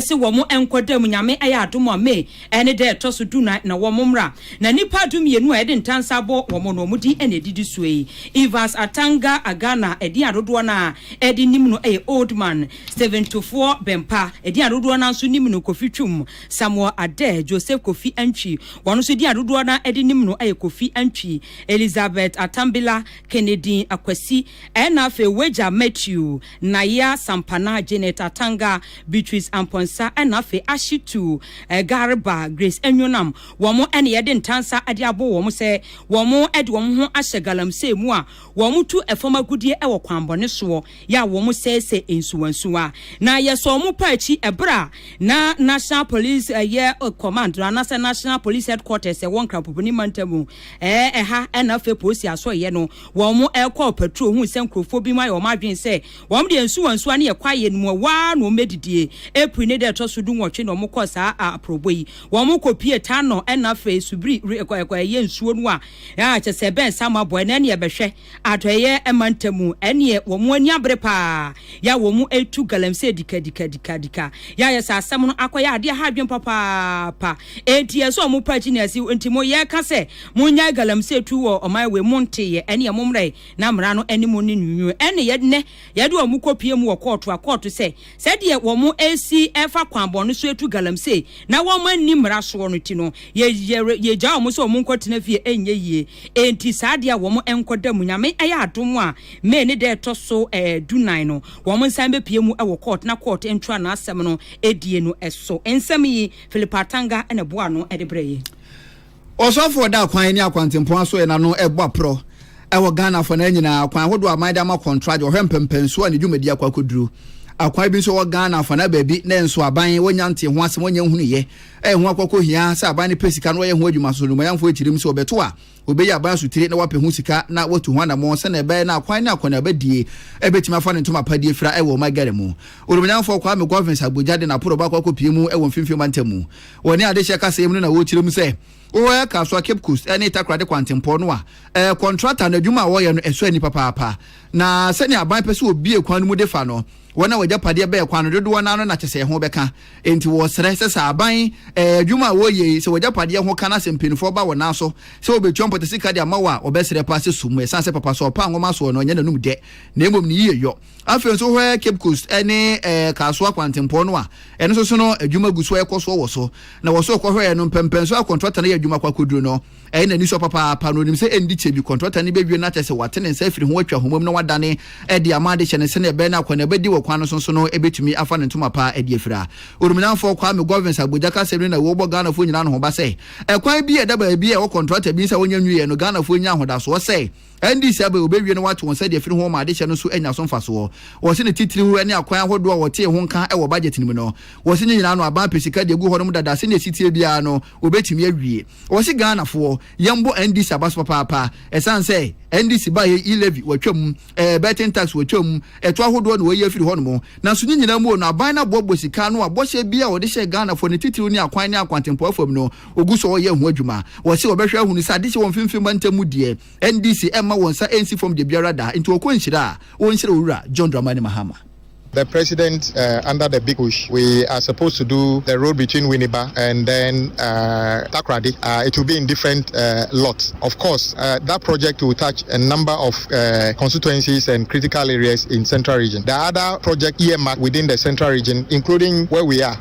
Speaker 1: se wɔn nkɔ da mu Nyame ayɛ adom a May ɛne da ɛtɔ so du-nan na wɔn mmra na nnipa du-mmienu a yɛde ntansa abɔ wɔn no wɔn din na ɛdidi soɔ yi Evans Atanga Agana ɛdin a dodoɔ no a ɛde nim no yɛ Oldman Steventoffoɔ bɛmpa, edin a dodoɔ no ara nso nim no Kofi Twum, Samuel Adair, Joseph Kofi Antwi, wɔn nso edin a dodoɔ no ara de nim no yɛ Kofi Antwi, Elizabeth Atambila, Kennedine Akwasi, ɛna afei Wagya Matthew, Nayia Sampana, Janet Atanga, Beatrice Amponsah, ɛna afei Ashitu Garba, Grace Anyonam, wɔn na yɛde ntansa de abɔ wɔn sɛ wɔde wɔn ho ahyɛ galamsey mu a wɔtu fam agudeɛ wɔ kwanbɔne soɔ. yɛ a wɔsɛesɛe nsuwansuwa, na yɛsɔɔ wɔn paa akyi bere a na National Police yɛ Command no anaasɛ National Police Headquarters ɛwɔ Nkrapobini mantam mu ɛha na afei Polisi Asɔeɛ no wɔn ɛkɔɔ patrol hui sɛ nkurɔfoɔ binom ayɛ wɔn adwene sɛ wɔn deɛ nsuwansuwa ne yɛ kwaeɛ no mu ɛhɔ ara na wɔn bɛdidie. April ne da ɛtɔ so du nwɔtwe na wɔkɔɔ saa aprɔbɔ yi. Wɔn kɔpie Tanɔ na afei Subiri ɛyɛ nsuo no a kyɛ sɛ ɛbɛn Samabɔ ɛnɛ ne yɛbɛhwɛ. Atɔeɛ mantam, ɛneɛ wɔn ani abere paa, yɛ a wɔn retu galamsey dikadikadikadika, yɛ a yɛ sɛ asɛm no akɔyɛ adeɛ ha adwene papaapa, enti ɛsɛ wɔn pa akyi na asi, enti mo yɛreka sɛ monnyae galamsey tu wɔ ɔman wei, monteeɛ, ɛneɛ mommrɛ na mmara no ne mo nni nwunwuo, ɛneɛ nnɛ yɛde wɔn kɔpue mu wɔ kɔɔto a kɔɔto sɛ Sɛdeɛ wɔresi refa kwanbɔn no so atu galamsey na wɔanni mmara soɔ no nti no, yɛyɛ yɛgya wɔn sɛ wɔn nkɔtena fie ɛnyɛ yie. Enti saa adeɛ a wɔn nkɔda mu, Nyame ayɛ adom a May ne da ɛtɔ so du nnan no, wɔn nsan bɛpue mu wɔ court na court ntra n'asɛm no die no so. Nsɛm yi Philip Atanga na ɛboa ano de brɛɛ yɛn. Ɔsɔfoɔ
Speaker 2: da akwan ne akwantempɔn asoɛɛ no ano bɔ aporɔ wɔ Ghana afanaa nyinaa, akwan ahodoɔ a aman de ama kɔntragye, ɔhwɛ mpɛmpɛnsoɔ a ne dwumadie akɔ akɔduru. Akwan bi nso wɔ Ghana afanaa baabi na nso aban wɔnnya ntee ho asɛm, wɔnnya nhunuiɛ, a ɛho akɔ akɔhia sɛ aban no pɛ sika na wɔyɛ ho adwuma soso nnubɔneyamfoɔ akyirim sɛ wɔbɛto a wɔbɛyi aban asotire na wɔapɛ ho sika na wɔatu ho anammɔn sɛdeɛ ɛbɛyɛ na akwan ne akɔneabadie bɛtumi afa ne ntoma pa die fra wɔ ɔman Ghana mu. Nnubɔneyamfoɔ Kwame Govins Agbodza de n'aporɔbɔ akɔ akɔpue mu wɔ Mfimfini Ɔmantam mu. Wɔne adehyeɛ kaseɛ mu no na wɔrekyerɛ mu sɛ Woyɛ Kasoa Cape Coast ne Takoradi Kwantempɔn no a, kɔntrata no adwuma a wɔyɛ no ɛsɔ ani papaapa. Na sɛnea aban pɛ sɛ wɔbue kwan no mu de fa no, wɔn a wɔagyapadeɛ bɛn kwan no dodoɔ no ara no na kyɛ sɛ ɛho bɛka. Enti wɔresrɛ sɛ sɛ aban adwuma a wɔreyɛ yi, sɛ wɔagyapadeɛ ho ka na sɛ mpanimfoɔ ba wɔn nan so sɛ wɔbɛtua mpɔtasika de ama wo a, wɔbɛsrɛ paa sɛ sum mu. Ɛsiane sɛ papa soɔ paa nwoma soɔ no, ɛnyɛ n'anom dɛ na mmom ne yiyeyɔ. Afei nso hwɛ Cape Coast ne ɛɛ eh, Kasoa kwantempɔn no a ɛno nso so no adwuma gu so ɛkɔ soɔ wɔ so na wɔ so kɔhwɛɛ no mpɛmpɛnso a kɔntrata no yɛ adwuma kɔ akɔduru no ɛyɛ n'ani sɔ papaapa na onim sɛ ɛndi kyɛ bi kɔntrata no bɛwie no akyɛ sɛ wate ne nsa afiri ho atwa homam na wadane ɛde ama adehyɛ no sɛnea ɛbɛyɛ no akwan na ɛbɛdi wɔ kwan no so so no ɛbɛtumi afa ne ntoma paa ɛde afira orominamfoɔ Kwame Govins Abuja kasɛm no na wɔbɔ Ghanafoɔ nyinaa no ho ba sɛ ɛkwan bi a ɛda baabi a ɛwɔ kɔntrata bi nsa wɔnya nwieɛ no Ghanafoɔ nya ahodasoɔ sɛ Ɛnde sɛ bere a wɔbɛwie na wɔate wɔn sɛdeɛ afiri ho ma adehyɛ no nso anya so mfasoɔ. Wɔse ne titiriw ne akwan ahodoɔ a wɔtee ho nka wɔ budget no mu no. Wɔse ne nyinaa no aban pɛ sika de agu hɔ nom dada sɛdeɛ ɛsiteɛ biara no wɔbɛtumi awie. Wɔse Ghanafoɔ yɛmbɔ NDC abaso papaapa ɛsiane sɛ NDC baeɛ yi levy wɔatwa mu, betting tax wɔatwa mu, ɛtoɔ ahodoɔ na wɔayi afiri hɔ nom. Nanso ne nyinaa mu o no aban no aboaboa sika ano a bɔhyɛ biara a wɔde hyɛɛ Ghanafoɔ ne titiriw ne akwan ne akwantempɔn fam no Wɔgu so reyɛ ho adwuma. Wɔse wɔbɛhwɛ ahunu sɛ adehye wɔ mfimfini mantam mu deɛ NDC mma wɔn nsa nsi fam dabiara da nti wɔkɔ nhyira a wɔnhyira Owura John Dramani Mahama. The president
Speaker 12: uh, under the big push we are supposed to do the road between Winneba and then uh, Takoradi uh, it will be in different uh, lots of course uh, that project will touch a number of uh, constituencies and critical areas in central region the other project earmarked within the central region including where we are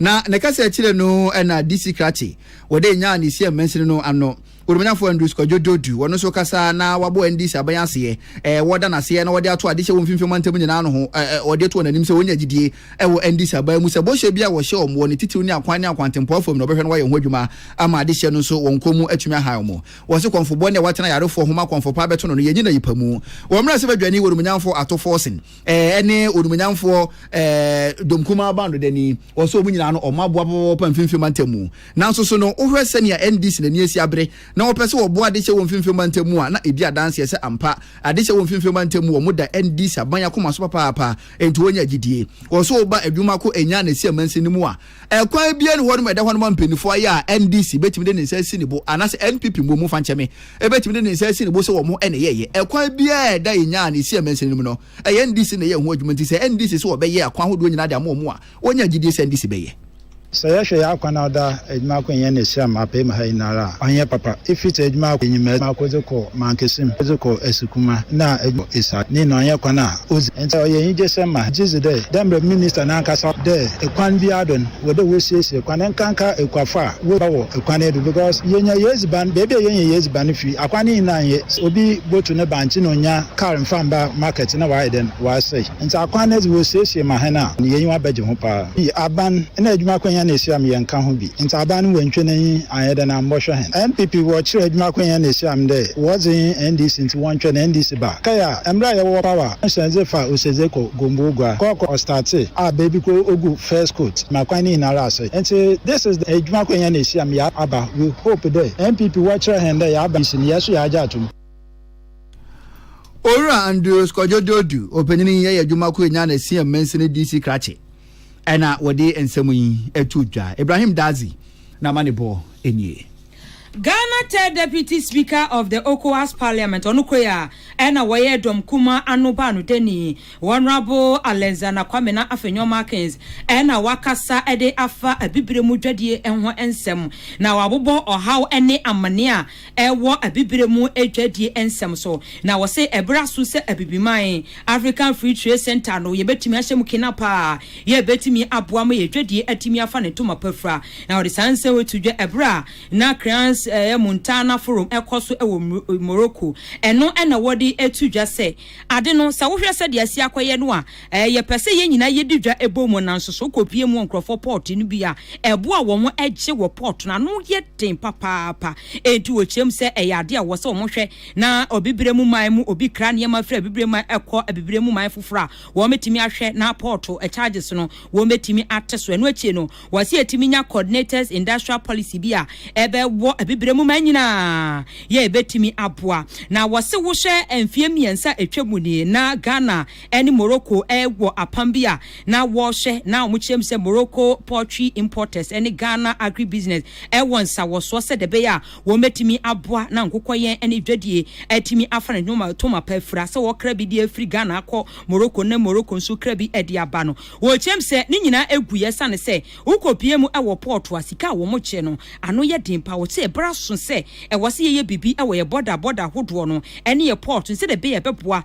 Speaker 2: Na ne kasa akyire no na DC Krattey, wɔde nyaa ne Siam mansini no ano Kurumanyafo Andrews Kwadwo Dodu, wɔno nso kasa na wabɔ NDC aban aseɛ, ɛɛ wɔda no aseɛ na wɔde ato ade hyɛ wɔ mfimfini ɔmantam nyinaa no ho, ɛɛ wɔde ato wɔn anim sɛ wɔnya gyidie ɛwɔ NDC aban mu sɛ bɔhyɛ bi a wɔhyɛ wɔn wɔ ne titiriw ne akwan ne akwantempɔn fam no wɔbɛhwɛ na wɔayɛ ho adwuma ama ade hyɛ no nso wɔn kɔn mu atumi ahan wɔn. Wɔse kɔmfobɔ ne a watena ayarefoɔ ho ma kɔmfɔpaa bɛto no no yɛnyi no ayipa mu. Wɔmmra sɛ badwani Wurumnyanfo Ato Forson. ɛne onimonyamfoɔ dɔm kumaa bando dani wɔ sɛ wɔn nyinaa no wɔn aboa pɔpɔpɔ mfimfini mantam mu nanso so no wohwɛ sɛnea NDC n'ani asi abere na wɔpɛ sɛ wɔboa adehyɛ wɔ mfimfini mantam mu a na ɛdi adanseɛ sɛ ampa adehyɛ wɔ mfimfini mantam mu wɔn da NDC aban akoma so papaapa enti wɔnya gyidie wɔ sɛ wɔba adwuma ko ɛnya na ɛsi amansin no mu a Ɛkwan biara nni hɔnom a ɛda hɔnom a mpanyinfoɔ ayɛ a NDC bɛtumi de ne nsa asi ne bo anaasɛ NPP mmuo mu fankyɛme bɛtumi de ne nsa asi ne bo sɛ wɔn na ɛyɛɛyɛ. Ɛkwan biara a ɛda Enya a na ɛsi ɛmansini no mu no, ɛyɛ NDC na ɛyɛɛ ho adwuma nti sɛ NDC se wɔbɛyɛ akwan ahodoɔ nyinaa de ama wɔn a, wɔnya gyidie sɛ NDC bɛyɛ. Sɛ yɛhwɛ yɛn
Speaker 13: akwan a ɔda adwuma ako nyɛ ne Siam apem ha nyinara a, ɔnyɛ papa. Ɛfiri sɛ adwuma ako, ɛnyimaa ako de kɔ Mankesim, ɛde kɔ Asikuma, ɛna ɛduru Esaat. Ne nyinaa ɔnyɛ kwan a. Odzi ntsɛ a ɔyɛ enyigyesɛm ma hɛn. Gyedzi dɛ, dɛ mbrɛ Minister no ankasa dɛ kwan biara do no, wɔ dɛ wosiesie kwan, nkanka ekuafo a woedua wɔ kwan no do, because yenya y'edziban, beebi a yenya y'edziban no fi, akwan no nyina nnyɛ, sɛ obi botu ne bankye na onnya kaar mmfa mmba market na ɔayɛ dɛn, ɔasɛe. Ntsi akwan no dze wosiesie ma hɛn a, hɛn enyiwa bɛgye ho paa. Aban na edwuma akwannya na esiam yɛnnka ho bi. Ntsaban no wentwe n'enyi annyɛ dɛn a mbɔhwɛ hɛn NPP wɔ kyerɛ edwuma ko hɛn ehyiam dɛ wɔdze hɛn NDC ntsi wɔntwɛn na NDC ba kae a mbrɛ a yɛwɔ power no hyɛn dze fa Oseze kɔ Gombogua kɔ kɔ Ɔstate a beebi kor ogu first coat ma kwan ne nyinara asɛe ntsi this is the edwuma ko hɛn ehyiam yɛ aba we hope dɛ NPP wɔkyerɛ hɛn dɛ yɛaba ntsi meyɛ so yɛagye ato mu.
Speaker 2: Owura Andrews Kwadwo Dodu, Opanyin yi yɛ edwuma ko enyan esia mansin DC krakye Ɛna wɔde nsɛm yi to dwa. Ibrahim Dadzie na ama ne bɔ nie. Ghana
Speaker 1: third deputy speaker of the Ocowas parliament ɔno koi a ɛna wɔyɛ dɔm kumaa ano baanodani Honourable Alexander Kwamena Afenyo Markins ɛna wakasa de afa abibire mu dwadie ho nsɛm na wabobɔ ɔhaw ne amane a ɛwɔ Abibire mu dwadie nsɛm so na wɔse ɛberɛ aso sɛ Abibiman African Free Trade Centre no yɛbɛtumi ahyɛ mu kena paa a yɛbɛtumi aboa ma yɛn dwadie atumi afa ne ntoma pa fira na wɔde saa nsɛm wei to dwa ɛberɛ a na Crans eh, Montana Forum ɛkɔ so ɛwɔ Morocco ɛno ɛna wɔde ɛto dwa sɛ ade no sɛ wohwɛ sɛdeɛ asi akɔyɛ no a Ɛɛ, yɛpɛ sɛ yɛn nyinaa yedi dwa bɔ mu, nanso sɛ wokopue mu wɔ nkurɔfo pɔɔte no bi a, ɛbo a wɔn gye wɔ pɔɔte no ano yɛ den papaapa. Enti wokyiam sɛ ɛyɛ ade a ɛwɔ sɛ wɔhwɛ na Abibirem mu man mu obi kra nneɛma firi Abibirem man kɔ Abibirem mu man foforo a, wɔbetumi ahwɛ na pɔɔte charges no wɔbetumi ate so. Ɛno akyi no, wɔsɛ yɛatumi anya coordinated industrial policy bi a ɛbɛwɔ Abibirem mu man nyinaa yɛ a ebetumi aboa. Na wɔsɛ wohwɛ mfeɛ mmiɛnsa a atwam nie na Ghana ɛne Morocco wɔ apam bi a na wɔrehwɛ na wɔkyerɛ mu sɛ Morocco poultry importers ne Ghana agribusiness wɔ nsawɔsoɔ sɛdeɛ ɛbɛyɛ a wɔbɛtumi aboa na nkokɔyɛn ne dwadie atumi afa ne ntoma pa afira sɛ wɔkra bi de afiri Ghana akɔ Morocco na Morocco nso kra bi de aba no wɔkyerɛ mu sɛ ne nyinaa ɛguiɛ ɛsiane sɛ wokɔpie mu wɔ pɔɔto a sika a wɔkyɛ no ano yɛ den paa wɔsɛ ɛberɛ aso sɛ ɛwɔ sɛ yɛyɛ biribi wɔ yɛ bɔda bɔda ahodoɔ no ne yɛ pɔɔto sɛdeɛ ɛbɛyɛ ɛbɛboa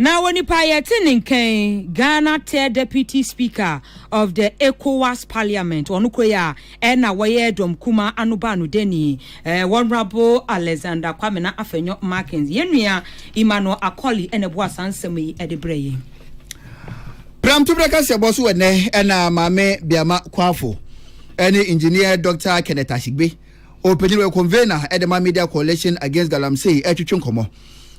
Speaker 14: Na
Speaker 1: wɔ nipa a yɛte ne nka yi, Ghana third deputy speaker of the Ecowas parliament, ɔno kura yi a ɛna wɔyɛ dɔm kumaa ano baanodani, eh, Honourable Alexander Kwamena Afenyo Markins. Yɛn nua Emmanuel Akoli ɛna ɛboa saa nsɛm yi ɛde brɛ yɛn.
Speaker 2: Pramtoberɛ kaseɛbɔ so ɛnɛ ɛna Maame Biama Kwafo ɛne Engineer Doctor Kenneth Ashigbe, ɔpanyin wɔ Convener ɛde ma Media Coalition Against Galamsey ɛtwetwe nkɔmmɔ.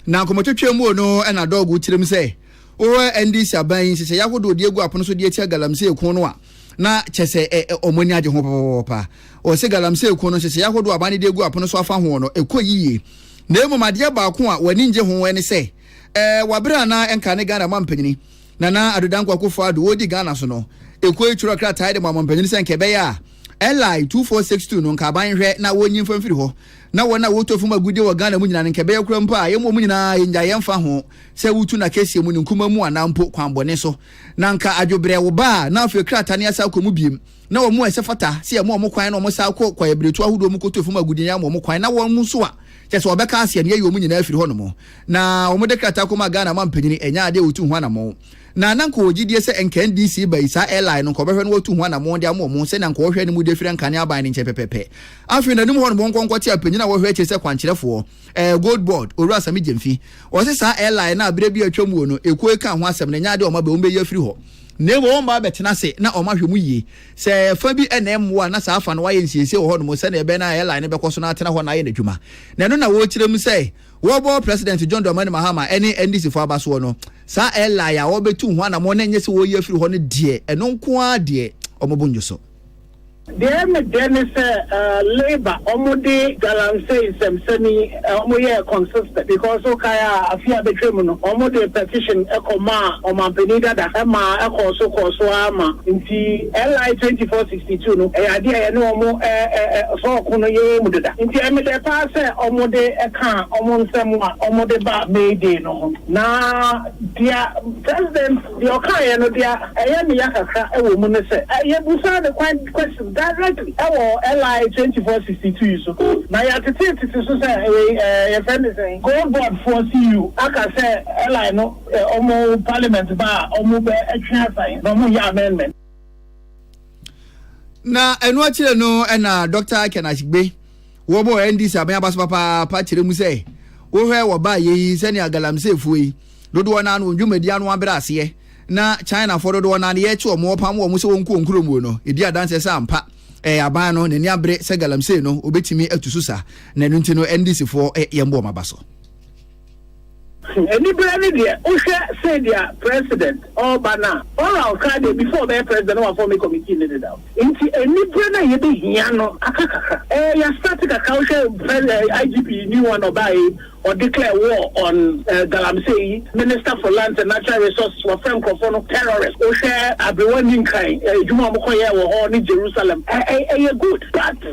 Speaker 2: Na nkɔmɔtwetwe muo no na Dog wo tirim sɛ wohwɛ NDC aban yi nhyehyɛeɛ ahodoɔ de agu apono so de atia Galamsey ko no a, na kyɛ sɛ ɛ, ɛ, wɔn ani agye ho papa. Wɔse Galamsey ko no nhyehyɛeɛ ahodoɔ a aban no de agu apono so afa ho no, ɛkɔ yie. Na mmom adeɛ baako a wɔn ani ngye ho ne sɛ, ɛ, wɔ aberɛ a na ɛnka ne Ghana mampanyini, Nana Addo Dankwa Akuffo Addo, ɔredi Ghana so no, ɛkɔe twerɛ krataa de maa mampanyini sɛ nka ɛbɛyɛ a, LI 2462 no nka aban nhwɛ na wɔnyi mfa mfiri hɔ. na wɔn a wɔtɔ fam agudeɛ wɔ Ghana mu nyinaa no nka ɛbɛyɛ koraa mpo a, yɛn wɔn nyinaa yɛnnyae yɛmfa ho sɛ wotu no akɛseɛ mu, ne nkumaa mu anaa mpo kwan bɔne so. Na anka adwobrɛ wo baa na afei krataa no yɛasan akɔ mu biom. Na wɔn a ɛsɛ fata sɛ yɛma wɔn kwan na wɔsan kɔ kwaeɛbiretuo ahodoɔ mu kɔtɔ fam agudeɛ no yɛama wɔn kwan, na wɔn nso a kyerɛ sɛ wɔbɛka aseɛ no yɛyi wɔn nyinaa firi hɔnom. Na wɔde krataa kɔmaa Ghana mampanin, ɛnyɛ adeɛ a wɔtu ho anamɔn. Na na nka ɔwɔ gyidie sɛ nka NDC ba yi, saa Eli no, nka ɔbɛhwɛ na watu ho anammɔn de ama wɔn ho sɛnea nka ɔhwɛ no mu de firi Nkane aban no nkyɛn pɛpɛpɛ. Afei n'anim hɔ no monkɔ nkɔte apanyin a wɔhwɛ akyire sɛ kwankyerɛfoɔ, ɛɛ Gold Board, Owura Sammy Gyamfi. Wɔse saa Eli no a berɛ bi a atwam wuo no, ekuo yi kaa ho asɛm no, ɛnyɛ adeɛ a wɔn abɛ, wɔn bɛyi afiri hɔ. Na mmom wɔn baa bɛtena ase na wɔn ahwɛ mu yie. Sɛ fa bi na ɛmmoa a, na saa fa no wɔayɛ nsiesie wɔ hɔnom sɛnea ɛbɛyɛ na Eli no bɛkɔ so na atena hɔ na ayɛ n'adwuma. Na ɛno na wɔrekyerɛ mu sɛ, Wɔbɔ President John Dramani Mahama ne NDC fo aba soɔ no, saa Eli a wɔbɛtu ho anamɔn na ɛnyɛ sɛ wɔreyi afiri hɔ no deɛ, ɛno nko ara deɛ wɔn bo nnwo so. Deɛ me
Speaker 15: dɛ ne sɛ labour ɔmo de galamsey nsɛmsɛm yi ɔmo yɛɛ consistent because wo kae a afe a bɛtwa mu no ɔmo de petition kɔ maa ɔmanpanin dada ɛmaa ɛkɔɔ so kɔɔ so ara ma nti Eli 2040 Situ no yɛ ade a yɛne wɔn fa ɔko no yɛ wɔ mu deda, enti ɛyɛ me dɛ paa sɛ wɔde kaa wɔn nsɛm a wɔde baa May Day no ho. Na deɛ President deɛ ɔkaeɛ no, deɛ ɛyɛ me ya kakra wɔ mu ne sɛ, yɛbisaa no kwan questions directly wɔ LI twenty four sixty two yi so, na yɛatetetete so sɛ wei yɛfrɛ no sɛn, Gold Board foɔ CU aka sɛ LI no wɔn Parliament ba a wɔbɛtwe asan na wɔnyɛ amendment.
Speaker 2: na ɛno akyire no ɛna dr ken ashigbe wɔbɔ ndc aban aba so papaapa kyerɛ mu sɛ wohwɛ wɔ baa yei sɛnea galamseefoɔ yi dodoɔ naa no wɔn dwumadi ano abrɛ aseɛ na chinafoɔ dodoɔ naa no yɛkye wɔn wɔpam wɔn sɛ wɔn kɔ wɔn kurom no ɛdi adanseɛ sɛ ampa ɛyɛ aban no n'ani abere sɛ galamsey no wɔbɛtumi atu so saa na ɛno nti no ndcfoɔ yɛn bɔ wɔn aba so
Speaker 15: Anibere ne deɛ wohwɛ sɛdeɛ president ɔreba no a, oral koraa deɛ before ɔbɛyɛ president na wafɔme committee no dedaw. Nti anibere no a yɛbɛhia no aka kakra. Ɛɛ yɛ start kakra, wohwɛ pres ɛɛ IGP new one ɔbaeɛ yi, ɔdeclare war on ɛɛ galamsey yi, minister for lands and natural resources wafrɛ nkorɔfoɔ no terrorists, wohwɛ aberewa nni nkan, ɛɛ adwuma a wɔkɔyɛɛ wɔ hɔ ne Jerusalem, ɛɛ ɛyɛ good but.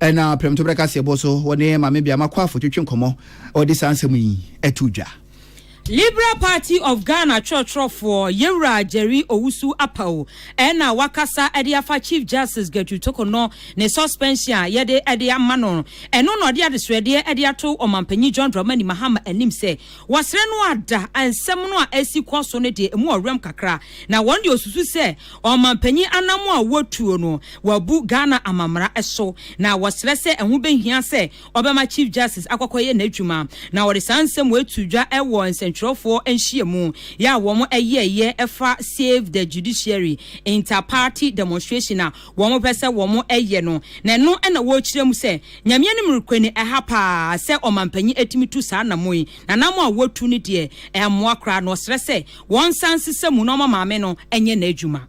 Speaker 2: Ɛnna prɛmtoberɛ kaseɛbɔ so wɔne Maame Biama Kwarfo twetwe nkɔmmɔ, wɔde saa nsɛm yi to dwa. Liberal
Speaker 1: Party of Ghana twerɛtwerɛfoɔ Yɛwura Jerry Owusu Apawu na wakasa de afa Chief Justice Gertrude Tokonɔ ne suspension a yɛde de ama no. Ɛno na ɔde adesrɛdeɛ de ato Ɔmanpanyin John Dramani Mahama anim sɛ wɔsrɛ no ada nsɛm no a ɛresi kɔ so no deɛ ɛmu ɔwerɛm kakra na wɔn deɛ wɔsusu sɛ Ɔmanpanyin anamɔ a wɔatuo no wɔabu Ghana amammara so na wɔsrɛ sɛ ɛho bɛhia sɛ ɔbɛma Chief Justice akɔkɔyɛ n'adwuma na wɔde saa nsɛm wei too dwa wɔ nsɛntwerɛfoɔ nhyiamu yɛ a wɔn yɛeɛ ɛfa Save the Judiciary Inter Party Demonstration a wɔn pɛ sɛ wɔn yɛ no na ɛno na wɔrekyerɛ mu sɛ Nyame anim rekɔ ni ɛha paa sɛ ɔmanpanyin atumi tu saa anamɔ yi na anamɔ a wɔatu no deɛ ɛmmoa koraa na ɔsrɛ sɛ Wɔnsan nsesa mu na ɔma maame no nyɛ n'adwuma.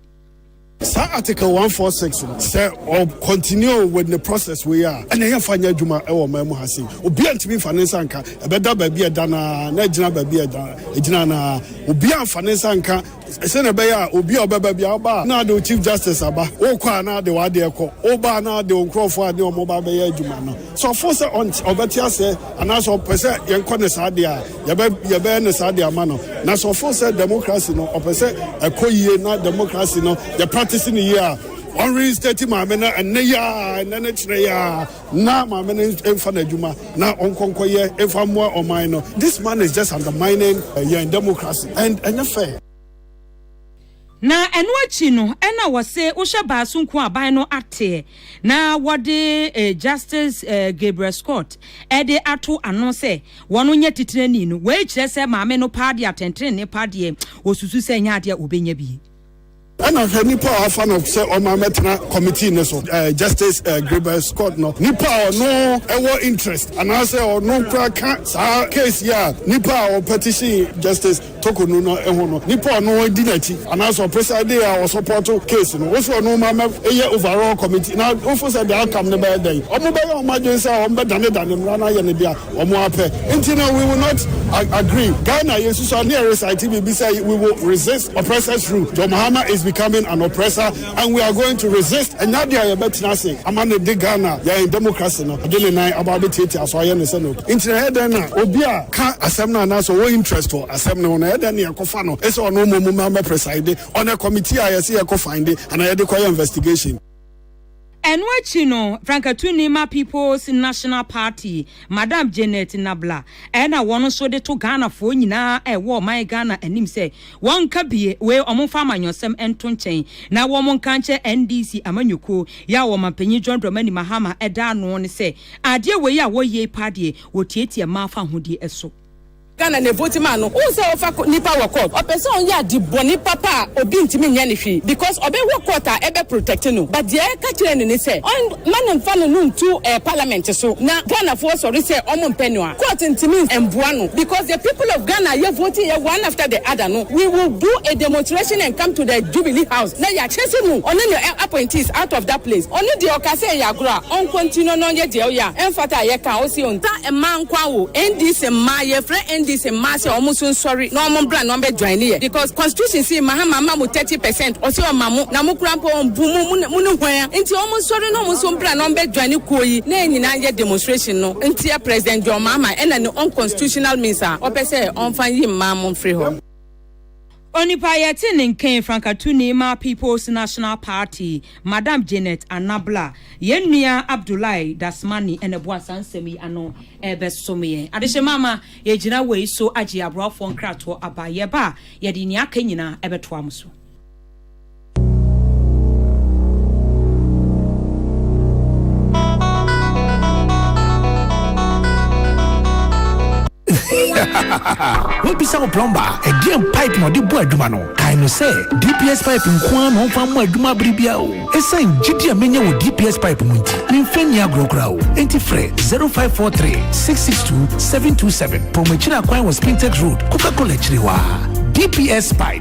Speaker 1: Saa
Speaker 16: Article one four six no, sɛ ɔ continue with ne process wei a, ɛna yɛn fa nyɛ adwuma wɔ ɔman mu ha sei. Obiara ntumi nfa ne nsa nka. Ɛbɛda baabi a ɛda no ara na agyina baabi a ɛda ɛgyina no ara. Obiara nfa ne nsa nka sɛnea ɛbɛyɛ a obi a ɔbɛba bi a ɔba a na ade wo Chief Justice aba, wokɔ a na ade w'adeɛ kɔ, woba a na ade wo nkurɔfoɔ a ne wɔn ba bɛyɛ adwuma no. Sɛ ɔfo sɛ ɔbɛte aseɛ anaasɛ ɔpɛ sɛ yɛnkɔ ne saa deɛ a, Yɛbɛ yɛbɛyɛ no saa de ama no. Na sɛ ɔfo sɛ democracy no ɔpɛ sɛ ɛkɔ yie na democracy no yɛ practice no yie a, wɔn reinstate maame no ɛnɛ yi ara, ɛnɛ ne kyerɛ yi ara, na maame no mfa n'adwuma na ɔnkɔ nkɔyɛ mfa mmoa ɔman no. This man is just undermining uh, yɛn democracy and ɛnyɛ fair.
Speaker 1: Na ɛno akyi no ɛna wɔse wohyɛ baa so nko aban no ateɛ na wɔde Justice Gabriel Scott de ato ano sɛ wɔn nyɛ titenani no, wei kyerɛ sɛ maame no paa deɛ atɛntrenee pa deɛ ɔsusu sɛ ɛnyɛ adeɛ a ɔbɛnya bi. Ɛna hwɛ
Speaker 16: nipa a wɔafa no sɛ ɔma mɛtena committee no so, Justice Gabriel Scott no, nipa a ɔno wɔ interest anaasɛ ɔno koraa ka saa case yi a nipa a ɔpɛtition Justice. Toko no na eho no nipa ɔno di n'akyi anaasɛ ɔpɛ sɛ de a ɔsɔpɔto case no wo sɛ ɔno ma mɛ yɛ overall committee na wo fo sɛ the outcome no bɛyɛ dɛn ɔmo bɛyɛ ɔmo adwen sɛ ɔmo bɛ dane dane mmra no ayɛ no dea ɔmo apɛ nti no we will not agree Ghana yɛ susua ne yɛ recite biribi sɛ we will resist oppressors rule John Mahama is becoming an oppressor And we are going to resist ɛnyɛ adeɛ a yɛbɛtena ase ama no de Ghana yɛn democracy no ɛde ne nan aba abɛtiatia so ayɛ no sɛ no nti na ɛyɛ dɛn na obi a ka asɛm no anaasɛ ɔwɔ interest wɔ asɛm no ho no ɛyɛ dɛn na yɛkɔfa no ɛsɛ ɔno mmom ma mɛpreside on a committee a yɛse yɛkɔ finde anaa yɛde kɔyɛ investigation. Ɛno
Speaker 1: akyi no, Frankatuni ma People's National Party, Madam Janet Nabla, ɛna wɔn nso de to Ghanafoɔ nyinaa a ɛwɔ ɔman Ghana anim sɛ, Wɔnka bie wei wɔn nfa amanyɔsɛm nto nkyɛn na wɔn nka nkyerɛ NDC amanyɔkuo yɛ a ɔmanpanyin John Dramani Mahama da ano no sɛ adeɛ wei a wɔyie paa deɛ wɔtiatia mmaa fahodie so. Ghana na evote
Speaker 17: maa no wohu sɛ ɔfa nipa wɔ court ɔpɛ sɛ ɔyɛ ade bɔne papa a obi ntumi nyɛ no hwee because ɔbɛwɔ court a ɛbɛ protect no but deɛ yɛka kyerɛ no ne sɛ ɔn ma no nfa no no ntu ɛɛ parliament so na Ghanafoɔ sɔre sɛ ɔmo mpɛ no a Court ntumi mboa no because the people of Ghana yɛ vote yɛ one after the other no we will do a demonstration and come to the jubilee house na yɛakyɛse no ɔne ne appointees out of that place ɔno deɛ ɔka sɛ ɛyɛ agorɔ a ɔnkɔ nti no na ɔnyɛ deɛ ɔyɛ a ɛmfata a yɛka a ɔse ɔnta mmaa nkoa wo NDC mmaa yɛfrɛ NDC mmaa sɛ ɔmo nso nsɔre na ɔmo mbra na ɔmbɛ joine yɛ because constitution se Mahama ama mo thirty percent ɔse ɔma mo na mo kora mpo ɔmbu mo mo ne hwan a nti ɔmo nsɔre na ɔmo nso mbra na ɔmbɛ joine kuo yi na yɛn nyinaa nyɛ demonstration no. Ntia President John Mahama ɛna ne unconstitutional means a ɔpɛ sɛ ɔnfa nyi mmaa mo mfiri hɔ. Onipa
Speaker 1: a yɛte ne nken, frankatuni ma People's National Party, Madam Janet Anabla. Yɛn nua Abdoulaye Dasmani na ɛboa saa nsɛm yi ano rebɛsom yɛn. Adehyema ama yɛagyina wei so agye aboafoɔ nkratoɔ aba. Yɛba a, yɛde nea aka nyinaa bɛtoa mo so.
Speaker 18: wobisa wo plɔmba a ɛdeɛn pipe na ɔde bɔ adwuma no kae no sɛ dps pipe nko ara na ɔmfa mmɔ adwuma bere biara o ɛsiane gyidi a menya wɔ dps pipe mu nti memfa nni agorɔ koraa o enti frɛ 0543 662 727 pɔmakyiri akwan wɔ spintex road coca-cola akyiri hɔ a dps pipe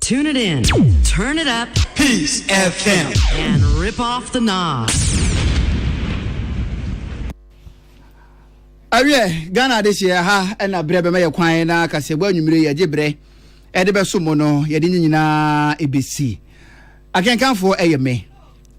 Speaker 19: Tune it in, turn it up, Peace FM,
Speaker 20: and rip
Speaker 19: off the knob.
Speaker 2: awiɛ ghana ade hyeɛ ha ɛna berɛ bɛma yɛ kwan na kasɛbɔ anwummere yɛgye berɛ ɛde bɛso mu no yɛde ne nyinaa ɛbɛsi akenkanfoɔ ɛyɛ me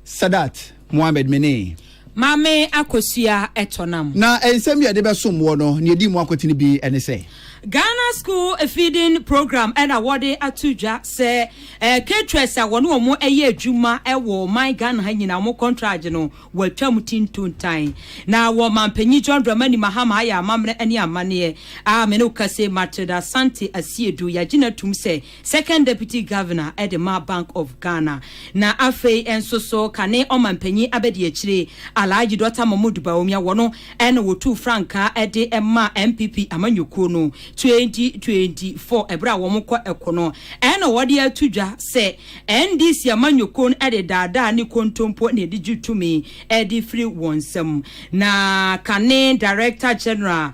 Speaker 2: Sadat Mohammed menee. Maame
Speaker 1: Akosua Ɛtɔnam. Na nsɛm bi a yɛde
Speaker 2: bɛsom woɔ no, nea ɛdi mu akotene bi ne sɛ. Ghana School
Speaker 1: Feeding Program ɛna wɔde ato dwa sɛ eh, caterers a wɔne wɔn ɛyɛ adwuma ɛwɔ ɔman Ghana ha nyinaa wɔn kɔntragye no wɔatwam ti ntontan. Na wɔ mampanyin John Dramani Mahama ayɛ amammerɛ ne amanneɛ a me ne wo kasa yi, Matilda Asante Asiedu yɛagye no atum sɛ Second Deputy Governor de ma Bank of Ghana, na afei nso so kane Ɔmanpanyin Abadiakyire Alhaji Dɔkta Mahmood Bawumia wɔ no na wɔtuu frankaa de ma NPP amanyɔkuo no 2024 ɛberɛ a wɔkɔ ɛko no na wɔde ato dwa sɛ NDC amanyɔkuo no de daadaa ne kontompo na ɛde gye tumi de firi wɔn nsam na kane Director General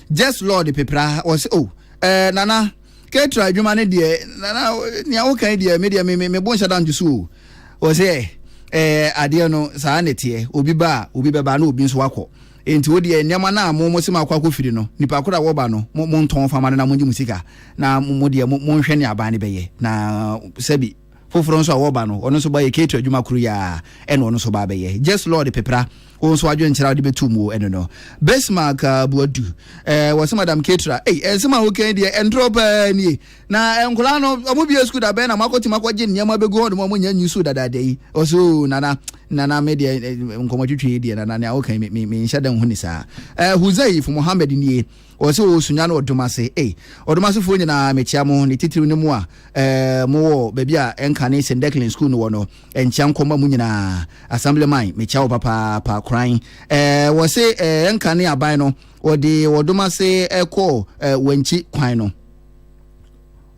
Speaker 2: Jess Lord Pepra, ɔse oh eh, Nana, Ketra adwuma no deɛ, Nana, nea woka yi deɛ, me deɛ me, me, me bo nhyɛ da nto so o. Ɔse eh, eh, adeɛ no, saa na ɛteɛ, obi ba a, obi bɛba na obi nso akɔ. Enti wo deɛ, nneɛma no a mo, mo se moakɔ akɔfiri no, nipa koro a wɔba no, mo, montɔn fa ma no na mongye mo sika, na mo, mo deɛ, mo, monhwɛ nea aban no bɛyɛ, na sɛbi. Foforɔ nso a wɔba no, ɔno nso bɔyɛ keeto adwuma koro yi ara ɛna ɔno nso ba abɛyɛ. Jess Lord Pepra, wo nso adwenkyerɛ a wode bɛto mu ɛno no. Bismark Boadu, eh, wɔse Madam Ketra, ei, ɛnsɛm a woka yi deɛ ɛntorɔ paa nie. Na eh, nkwadaa no, wɔn bue sukuu da bɛn na moakɔtumi akɔgye nneɛma bɛgu hɔ nom a wɔnyɛ nyi suu dadaada yi? Ɔse, oo, oh, nana, nana, me deɛ, eh, nkɔmmɔtwetwe yi deɛ, nana, nea woka yi, me, me, menhyɛ da nhu ne saa. Eh, Huzaif Mohammed nie. Wɔn se wɔwɔ Sunya ne Ɔdomase. Ei, Ɔdomasefoɔ nyinaa, mekyea mo, ne titiriw ne mo a mowɔ baabi a ɛnka ne St. Declan Sukuu no wɔ no. Nkyea nkɔ mma mo nyinaa. Assemblyman, mekyea wo papaapa. Koran, wɔse ɛnka ne aban no, wɔde Ɔdomase kɔɔ Wankyi kwan no.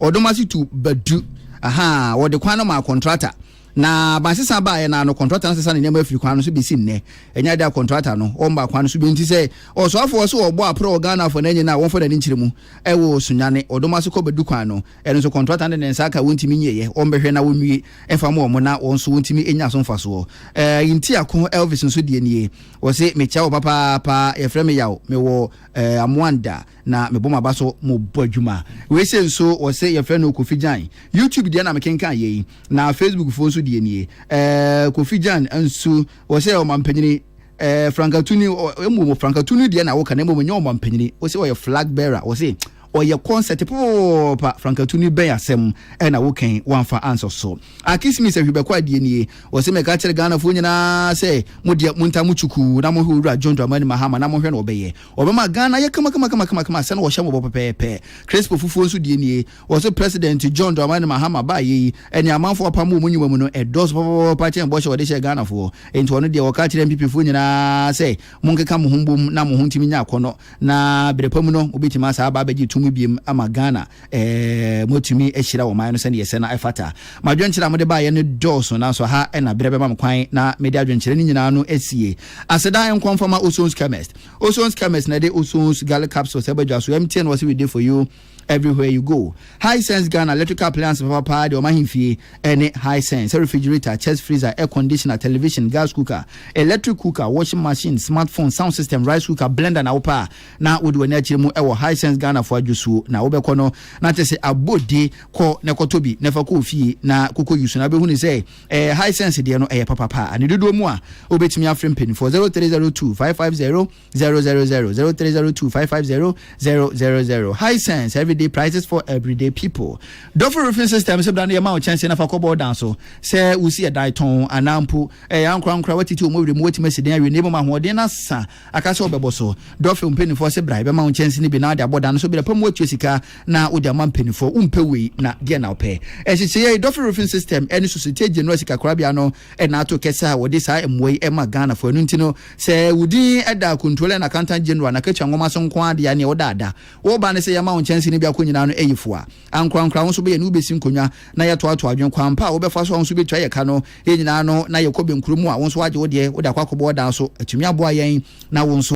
Speaker 2: Ɔdom ase tu badu. Ahaa, wɔde kwan no maa kɔntrata. Na abansesa baeɛ no ara no, kɔntrata no sesa ne nneɛma firi kwan no so bɛsi nnɛ. Ɛnyɛ ade a kɔntrata no, wɔmmaa kwan no so bio. Enti sɛ ɔsoafoɔ se ɔbɔ aprɛ wɔ Ghanafoɔ no anyin a, wɔmfa n'ani nkyerɛ mu. Ɛwɔ Sunyani, Ɔdom ase kɔ Badu kwan no, ɛno nso kɔntrata no de ne nsa aka a wɔntumi nyieɛ. Wɔmbɛhwɛ na wɔnwie mfa mmoa wɔn na wɔn nso wɔntumi nya so mfasoɔ. Ɛɛ, Ayintiako Elvis nso deɛ nie. Ɔse, Mekyia wo papaapa. Yɛfrɛ me Yaw. Mewɔ, ɛɛ, Amoanda. na mebɔ m'aba so mobɔ adwuma. Wei sei nso wɔse yɛfrɛ no Kofi Gyan. YouTube deɛ na mekenkan yei, na Facebook foɔ nso deɛ nie. Ɛɛɛ Kofi Gyan nso wɔse ɔmampanyini ɛɛɛ frankatuni mmom frankatuni deɛ na woka na mmom ɛnyɛ ɔmampanyini. Wose ɔyɛ flag bearer, wɔse ɔyɛ kɔnsɛte popopopopa, frankatuni bɛn asɛm na woka yi woamfa ansɔ so. Akismis Ahwibɛkwaa deɛ nie, wɔse mɛka kyerɛ Ghanafoɔ nyinaa sɛ modeɛ montaa mo kyukuu na mohwɛ Owura John Dramani Mahama na mohwɛ na ɔbɛyɛ. Wɔbɛma Ghana ayɛ kamakamakamakama sɛnea wɔhyɛ mmɔbɔ pɛpɛɛpɛ. Crespo fufuo nso deɛ nie, wɔse President John Dramani Mahama baeɛ yi, ɛnea amanfoɔ apam wɔ wɔn nnwuma mu no, ɛdɔɔso papapapapa kyɛn bɔhyɛ a wɔde hyɛɛ Ghanafoɔ. Enti ɔno deɛ, ɔka kyerɛɛ NPPfoɔ nyinaa sɛ, Monkeka mo ho mbom na mo ho ntumi nyɛ akɔnnɔ, na berɛ pa mu no, mobɛtumi asan aba abɛgye tumi biom ama Ghana. moatumi ahyira ɔman no sɛdeɛ ɛsɛ na ɛfata. Mo adwenkyerɛ a mode baeɛ no dɔɔso, nanso ha na berɛ bɛma me kwan na mede adwenkyerɛ no nyinaa no asie. Aseda nkɔ mfama Ozon's Chemist. Ozon's Chemist na ɛde Ozon's Garlic Capsules aba dwa so. MTN wɔ se we dey for you everywhere you go. Hisense Ghana electrical appliance papapaa deɛ ɔma ahemfie ɛne Hisense sɛ refrigerator, chest freezer, air conditioner, television, gas cooker, electric cooker, washing machine, smartphone, sound system, rice cooker, blender na wopɛ a na wode w'ani akyerɛ mu wɔ Hisense Ghana fo adwosuo na wobɛkɔ no na te se abode kɔ na kɔtɔ bi na fa kɔ ofie na kɔkɔ use no wobɛhunu sɛ ɛɛ Hisense deɛ no ɛyɛ papa paa ne dodoɔ mu a wobɛtumi afrɛ mpanimfoɔ 0302 550 000 0302 550 000 Hisense everyday prices for everyday people Dɔfo Roofing System sɛ bra no yɛma wo kyɛnse na fa kɔ bɔɔ dan so sɛ wosi ɛdan tɔn anaa mpo ɛɛ ankorankora watiti wɔn werɛ mu watumi asi dan awie na ɛmom ahoɔden no asa Aka sɛ ɔbɛbɔ so. Dɔfil mpaninfoɔ se bra yɛbɛma wo nkyɛnse no bi na wode abɔ dan no so berɛ pa mu woatua sika na wode ama mpaninfoɔ. Wompɛ wei na deɛn na wopɛ? Nhyehyɛeɛ yi, Dɔfil Roofing System ne Sosotie General Sikakorabea no na ato kɛsɛ a wɔde saa mmoa yi ma Ghanafoɔ. Ɛno nti no, sɛ wo din da Controller and Accountant General anakatua nwoma so nko ara deɛ a neɛ woda ada. Woba ne sɛ yɛma wo nkyɛnse no biako nyinaa no ɛyɛ fua. Ankorankora wo nso bɛyɛ ne wobɛsi nkonnwa na yɛatoatoa adwene kwan pa a wobɛfa so a wo nso wobɛtua yɛ ka no Yɛn nyinaa no na yɛkɔ bɛnkuro mu a wo nso woagye wo deɛ wode akɔ akɔbɔ ɔdaa so atumi aboa yɛn na wo nso.